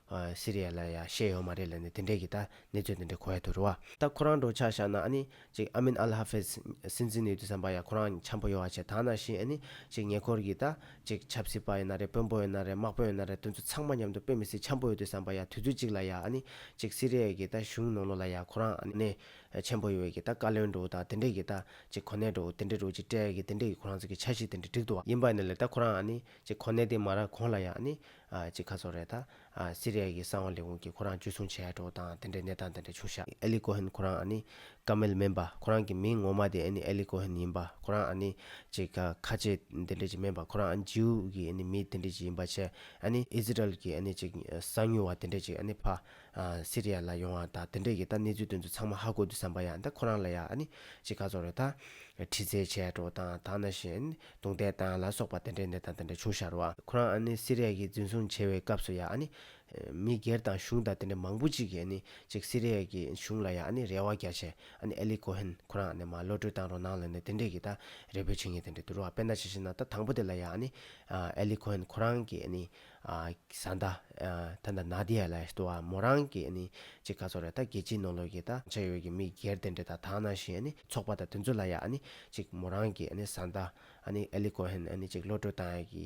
སི་རི་ཡ་ལ་ཡ་བཤད་ཡོང་མ་རེད་ལ་ནི་དེ་འདྲས་ཀྱི་ད་གནས་ཚོད་དེ་འདྲས་གོ་ཡ་ཐུ་རུ་བ། ད་ཁོ་རང་འགྲོ་ཆགས་བཞག་ན་ཨ་ནི་ཅིག་ཨ་མིན་ཨལ་ཧ་ཧྥེས་སྲིད་འཛིན་ཡོད་དུས་སམ་པ་ཡ་ཁོ་རང་འཆམ་པོ་ཡོ་བ་བྱས་ད་ན་བཞིན་ཨ་ནི་ཅིག་ཉེ་འཁོར་གྱི་ད་ཅིག་ཆབ་སྲིད་པ་ཡིན་ན་རེད་དཔོན་པོ་ཡིན་ན་རེད་དམག་དཔོན་ཡིན་ན་རེད་དེ་ཚོ་ཚང་མ་མཉམ་དུ་དཔེ་མི་སྲིད་འཆམ་པོ་ཡོད་དུས་སམ་པ་ཡ་དུས་ཚོད་ཅིག་ལ་ཡ་ཨ་ནི་ཅིག་སི་རི་ཡ་གྱི་ད་གཞུང་ནོར་ལོ་ལ་ཡ་ཁོ་རང་ཨ་ནི་འཆམ་པོ་ཡོ་བའི་གྱི་ད་བཀའ་བློན་འགྲོ་འུ་ད་དེ་འདྲས་ཀྱི་ད་ཅིག་གོ་གནས་འགྲོ་འུ་དེ་འདྲས་འགྲོ་ཅིག་སྤྲད་ཀྱི་དེ་འདྲས་ཀྱི་ཁོ་རང་ཚོ་གྱི་ཆ་ཤིག་དེ་འདྲས་འགྲིག་འདུག་བ། ཡིན་པ་ནི་ལ་ད་ཁོ་རང་ཨ་ནི་ཅིག་གོ་གནས་དེ་མ་རག་གོང་ལ་ཡ་ཨ་ནི་གཅིག་ཁ་སོགས་རེད་ད། སི་རི་ཡ་གི་གསང་བ་ལས་ཁུངས་ཀྱིས་ཁོ་རང་འཇུ་བཟུང་བྱས་ཡག་འགྲོ་དང་དེ་འདྲའི་གནས་སྟངས་དེ་འདྲ་བྱུང་ཤག་ཨེ་ལི་ཀོ་ཧན་ཁོ་རང་ཨ་ནི་ཀ་མེལ་སྨན་པ་ཁོ་རང་གི་མིང་ངོ་མ་དེ་ཨེ་ནི་ཨེ་ལི་ཀོ་ཧན་ཡིན་པ་ཁོ་རང་ཨ་ནི་ཅིག་ཁ་ཆེ་དེ་འདྲའི་ཅིག་སྨན་པ་ཁོ་རང་ཨ་ནི་ཇིའུ་གི་ཨེ་ནི་མི་དེ་འདྲའི་ཅིག་ཡིན་པ་ཆེ་ཨེ་ནི་ཨི་ཟི་རལ་གི་ཨེ་ནི་ཅིག་གསང་ཉུལ་བ་དེ་འདྲའི་ཅིག་ཨེ་ནི་ཕ། སི་རི་ཡ་ལ་ཡོང་བ་ད་དེ་འདྲའི་གི་ད་གནས་ཚུལ་དོན་ཚུལ་ཚང་མ་ཧ་གོ་དུས་བསམ་པ་ཡག་ད་ཁོ་རང་ལ་ཡག་ཨ་ནི་ཅིག་ཁ་སོགས་རེད་ད། ཁྲི་ཚེ་བྱས་ཡག་འགྲོ་དང་ད་ན་བཞིན་ཨེ་ནི། རྡུང་རྡེག་དང་ལ་སོགས་པ་དེ་འདྲའི་ནད་དང་དེ་འདྲ་བྱུང་ཤར་བ། ཁོ་རང་ཨ་ནི་སི་རེ་ཡ་གི་འཛིན་བཟུང་བྱས་བའི་སྐབས་སུ་ཡ་ཨ་ནི། མི་སྒེར་དང་གཞུང་དང་དེ་འདྲ་མང་པོ་ཅིག་གིས་ཨ་ནི་ཅིག་སི་རེ་ཡ་གི་གཞུང་ལ་ཡ་ཨ་ནི་རེ་བ་རྒྱ་ཆེ་ཨ་ནི་ཨེ་ལི་ཀོ་ཧན་ཁོ་རང་ཨ་ནི་མ་བློ་གྲོས་དང་རོ་ནང་ལོན་ནས་དེ་འདྲས་གི་ད་རེ་བོད་བྱེད་ངེས་དེ་འདྲས་འདུག་རོ་ཨ་དཔེ་ན་ཇི་བཞིན་ན་ད་དང་པོ་དེ་ལ་ཡ་ཨ་ནི་ཨེ་ལི་ཀོ་ཧན་ཁོ་རང་གིས་ཨ་ནི་བཟའ་ཟླ། ད་ལྟ་ནཱ་དཱི་ཡཱ་ལ་ཏུ་ཨ་མོ་རང་གི་ཅི་ག་ཚོར་རེ་ད་རྒྱལ་སྤྱིའི་ནོར་ལུག་གི་ད་འཆད་ཡོད་ཀྱི་མི་སྒེར་དེ་འདྲེ་ད་དག་ནང་བཞིན་ཚོགས་པ་ད་དེ་ཚོ་ལ་ཡ་ཅིག་མོ་རང་གི་བཟའ་ཟླ། ཨ་ལི་ཀོ་ཧན་ཅིག་བློ་གྲོས་བཏང་ཡ་གི་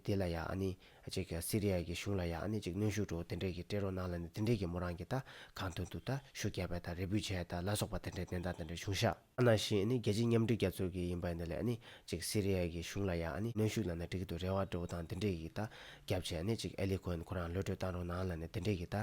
དེ་ལ་ཡ་ཅིག་སི་རི་ཡ་གི་གཞུང་ལ་ཡ་ཅིག་གནོན་ཤུགས་འགྲོ་དེ་འདྲེ་གི་སྤྲད་རོགས་གནང་ལ་ནི་དེ་འདྲེ་གི་མོ་རང་གི་ད་གང་དོན་དུ་ད་ཤུགས་རྒྱག་པའི་ད་རེ་འབུད་བྱས་ད་ལ་སོགས་པ་དེ་འདྲེ་གནས་སྟངས་དེ་འདྲེ་བྱུང་ཤག། ཨ་ན་ཤི་ནི་རྒྱལ་སྤྱི་མཉམ་སྒྲིག་རྒྱ་མཚོས་ཀྱི་ཡིན་པ་འདི་ལས་ནི་ཅིག་སི་རི་ཡའི་གི་གཞུང་ལ་ཡ་ནི་གནོན་ཤུགས་གནང་ན་འགྲིག་གི་འདུག་རེ་བ་འགྲོ་འུ་དང་འདི་འདྲས་ཀྱི་ད་རྒྱབ་བྱས་ནི་ཅིག་ཨེ་ལི་ཁོན་ཁོ་རང་ལོས་གྲོས་བཏང་རོགས་གནང་ལ་ནི་འདི་འདྲས་ཀྱི་ད་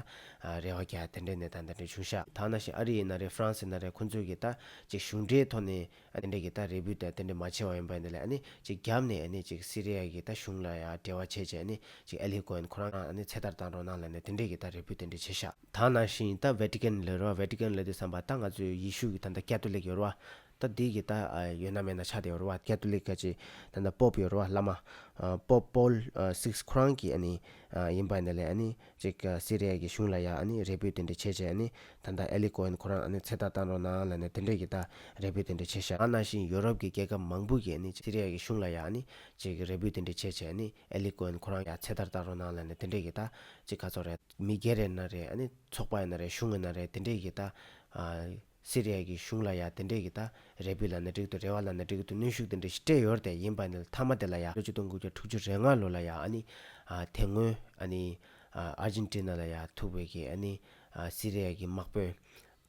རེ་བ་རྒྱ་དེ་འདྲས་ནས་ད་འདི་འདྲས་བྱུང་ཤག་ད་ཨ་ན་ཤི་ཨ་རི་ཡིན་ན་རེད་ཧྥ་རན་སི་ཡིན་ན་རེད་ཁོ་ཚོས་ཀྱི་ད་ཅིག་གཞུང་འབྲེལ་ཐོག་ནི་འདི་འདྲས་ཀྱི་ད་རེ་བུ་ད་དེ་འདྲས་མ་བྱས་བ་ཡིན་པ་འདི་ལས་ནི་ཅིག་རྒྱབ་ནས་ནི་ཅིག་སི་རི་ཡའི་གི་ད་གཞུང་ལ་ཡ་འབྲེལ་བ་བྱས་བྱས་ནི་ཅིག་ཨེ་ལི་ཁོན་ཁོ་རང་ནི་ཚེ་ཐར་བཏང་རོགས་གནང་ལ་ནི་འདི་འདྲས་ཀྱི་ད་རེ་བུ་དེ་འདྲས་བྱས་ཤག། ད་ནང་བཞིན་ད་བྷེ་ཏི་ཀན་ལོད་རོ་བྷེ་ཏི་ཀན་ལོད་དེ་བསམ་པ་ད་ང་ཚོའི་ཡེ་ཤུ་གི་ད་ནྡ་ཀྱ་ཏུ་ལིག་ཡོད་རོ་བ། ད་འདི་གི་ད་ཡོད་ན་མེད་ན་ཆགས་བསྡད་ཡོད་རོ་བ་ཀྱ་ཏུ་ལིག་ཀ་ཅི་ད་ནྡ་པོབ་ཡོད་རོ་བ་བླ་མ། པོབ་པོལ་སིགས་ཁྲོང་གི་ཨ་ནི་ཡིན་པ་འདི་ལས་ཨ་ནི་ཅིག་སི་རེ་ཡ་གི་གཞུང་ལ་ཡ་ཨ་ནི་རེ་བུད་དེ་འདྲི་བྱེད་ཅེས་ཨ་ནི་ད་ནྡ་ཨེ་ལི་ཀོ་ཧན་ཁོ་རང་ཨ་ནི་ཚེ་ཐག་བཏང་རོགས་གནང་ལ་ནི་དེ་འདྲི་གི་ད་རེ་བུད་དེ་འདྲི་བྱེད་ཤག། ད་ནང་བཞིན་ཡོ་རོབ་གི་རྒྱལ་ཁབ་མང་པོ་གི་ཨ་ནི་ཅིག་སི་རེ་ཡ་གི་གཞུང་ལ་ཡ་ཨ་ནི་ཅིག་རེ་བུད་དེ་འདྲི་བྱེད་ཅེས་ཨ་ནི་ཨེ་ལི་ཀོན་ཁོ་རང་ཡ་ཚེ་ད་ལྟ་རོ་ནང་ལ་ནས་དེ་འདྲས་ཀྱི་ད་ཅི་ག་ཚོགས་རེད་མི་སྒེར་རེད་ན་རེད་ཨ་ནི་ཚོགས་པ་ཡིན་ན་རེད་གཞུང་ཡིན་ན་རེད་དེ་འདྲས་ཀྱི་ད་ཨ་སི་རི་ཡ་ཀྱི་གཞུང་ལ་ཡ་དེ་འདྲས་ཀྱི་ད་རེ་བུ་ལ་ནས་འགྲིག་ཏུ་རེ་བ་ལ་ནས་འགྲིག་ཏུ་གནོན་ཤུགས་དེ་འདྲས་ཞིག་སྤྲད་ཡོད་དེ་ཡིན་པ་ནི་མཐའ་མ་དེ་ལ་ཡ་ལོ་བཅུ་སྟོང་དགུ་བརྒྱ་དྲུག་ཅུ་རེ་ལྔ་ལོ་ལ་ཡ་ཨ་ནི་ཨ་དེ་སྔོན་ཨ་ནི་ཨ་ཨར་ཇིན་ཏི་ན་ལ་ཡ་ཐུག་བའི་ཀྱི་ཨ་ནི་ཨ་སི་རི་ཡ་ཀྱི་དམག་དཔོན།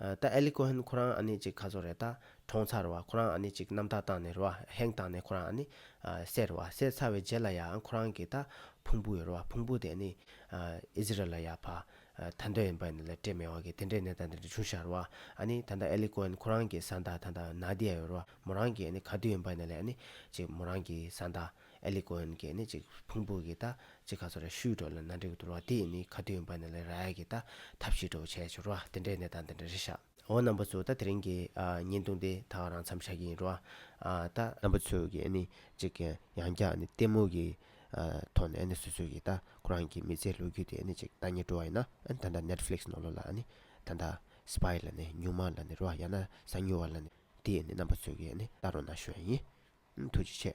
ད་ཨེ་ལི་ཀོ་ཧན་ཁོ་རང་ཨ་ནི་ཅིག་ཁ་བཟོ་རེད་ད། གྲོང་ཚར་བ་ཁོ་རང་ཨ་ནི་ཅིག་རྣམ་དག་བཏང་ནས་རོ་ཧེང་བཏང་ནས་ཁོ་རང་ཨ་ནི། བསད་རོ་བསད་ཚར་བའི་རྗེས་ལ་ཡ་ཨང་ཁོ་རང་གི་ད། ཕུང་པོ་ཡོད་རོ་བ་ཕུང་པོ་དེ་ཨ་ནི། ཨི་ཟི་རལ་ལ་ཡ་ཕ། ད་འདོད་ཡིན་པ་ནི་ལ་སྤྲད་མེད་བ་གི་དེ་འདྲའི་ནད་ད་འདྲ་འདྲ་བྱུང་ཤར་བ། ཨ་ནི་ད་ད་ཨེ་ལི་ཀོ་ཧན་ཁོ་རང་གི་ཟ་འདག་ད་ད་ནཱ་དི་ཡ་ཡོད་རོ་བ་མོ་རང་གི་ཨ་ནི་ག་དུས་ཡིན་པ་ནི་ལ་ཨ་ནི། ཅིག་མོ་རང་གི་ཟ་འདག། ཨེ་ལི་ཀོ་ཨན་གྱིས་ནི་ཅིག་ཕུང་པོ་གིས་ད་ཅིག་ག་ཚོད་ར་ཤུལ་འགྲོ་ལ་ན་འདྲེ་གི་དུར་བ་དེས་ནི་ཁ་དུས་འབར་ནས་ལ་ར་ཨེ་གིས་ད་ཐབས་ཤེས་འགྲོ་བ་བྱས་ཤོར་བ་དེ་འདྲའི་གནས་དང་དེ་འདྲའི་རི་ཤ། འོ་རྣམ་པ་ཚོས་ད་དེ་རིང་གི་ཉིན་བཏུང་དེ་དག་རང་འཚམས་བྱ་གི་ཡིན་རོ། ད། རྣམ་པ་ཚོས་ཀྱིས་ནི་ཅིག་ཡང་བསྐྱར་ནི་ལྟད་མོ་གི་ཐོག་ནས་ནི་སོ་སོས་ཀྱིས་ད་ཁོ་རང་གི་མི་ཚེའི་ལོ་རྒྱུས་དེ་ནི་ཅིག་ད་ཉེར་འགྲོ་བ་ཡིན་ན་ད་ད Netflix ནོར་ལོ་ལ་ནི་ད་ད Spy ལ་ནི་ཉུང་མ་ལ་ནི་རོ་ཡང་ན་གཟའ་ཉུལ་བ་ལ་ནི་དེས་ནི་རྣམ་པ་ཚོས་ཀྱིས་ནི་ད་རོ་ན་ཞོན་ཡིན། ཐུགས་རྗེ་ཆེ།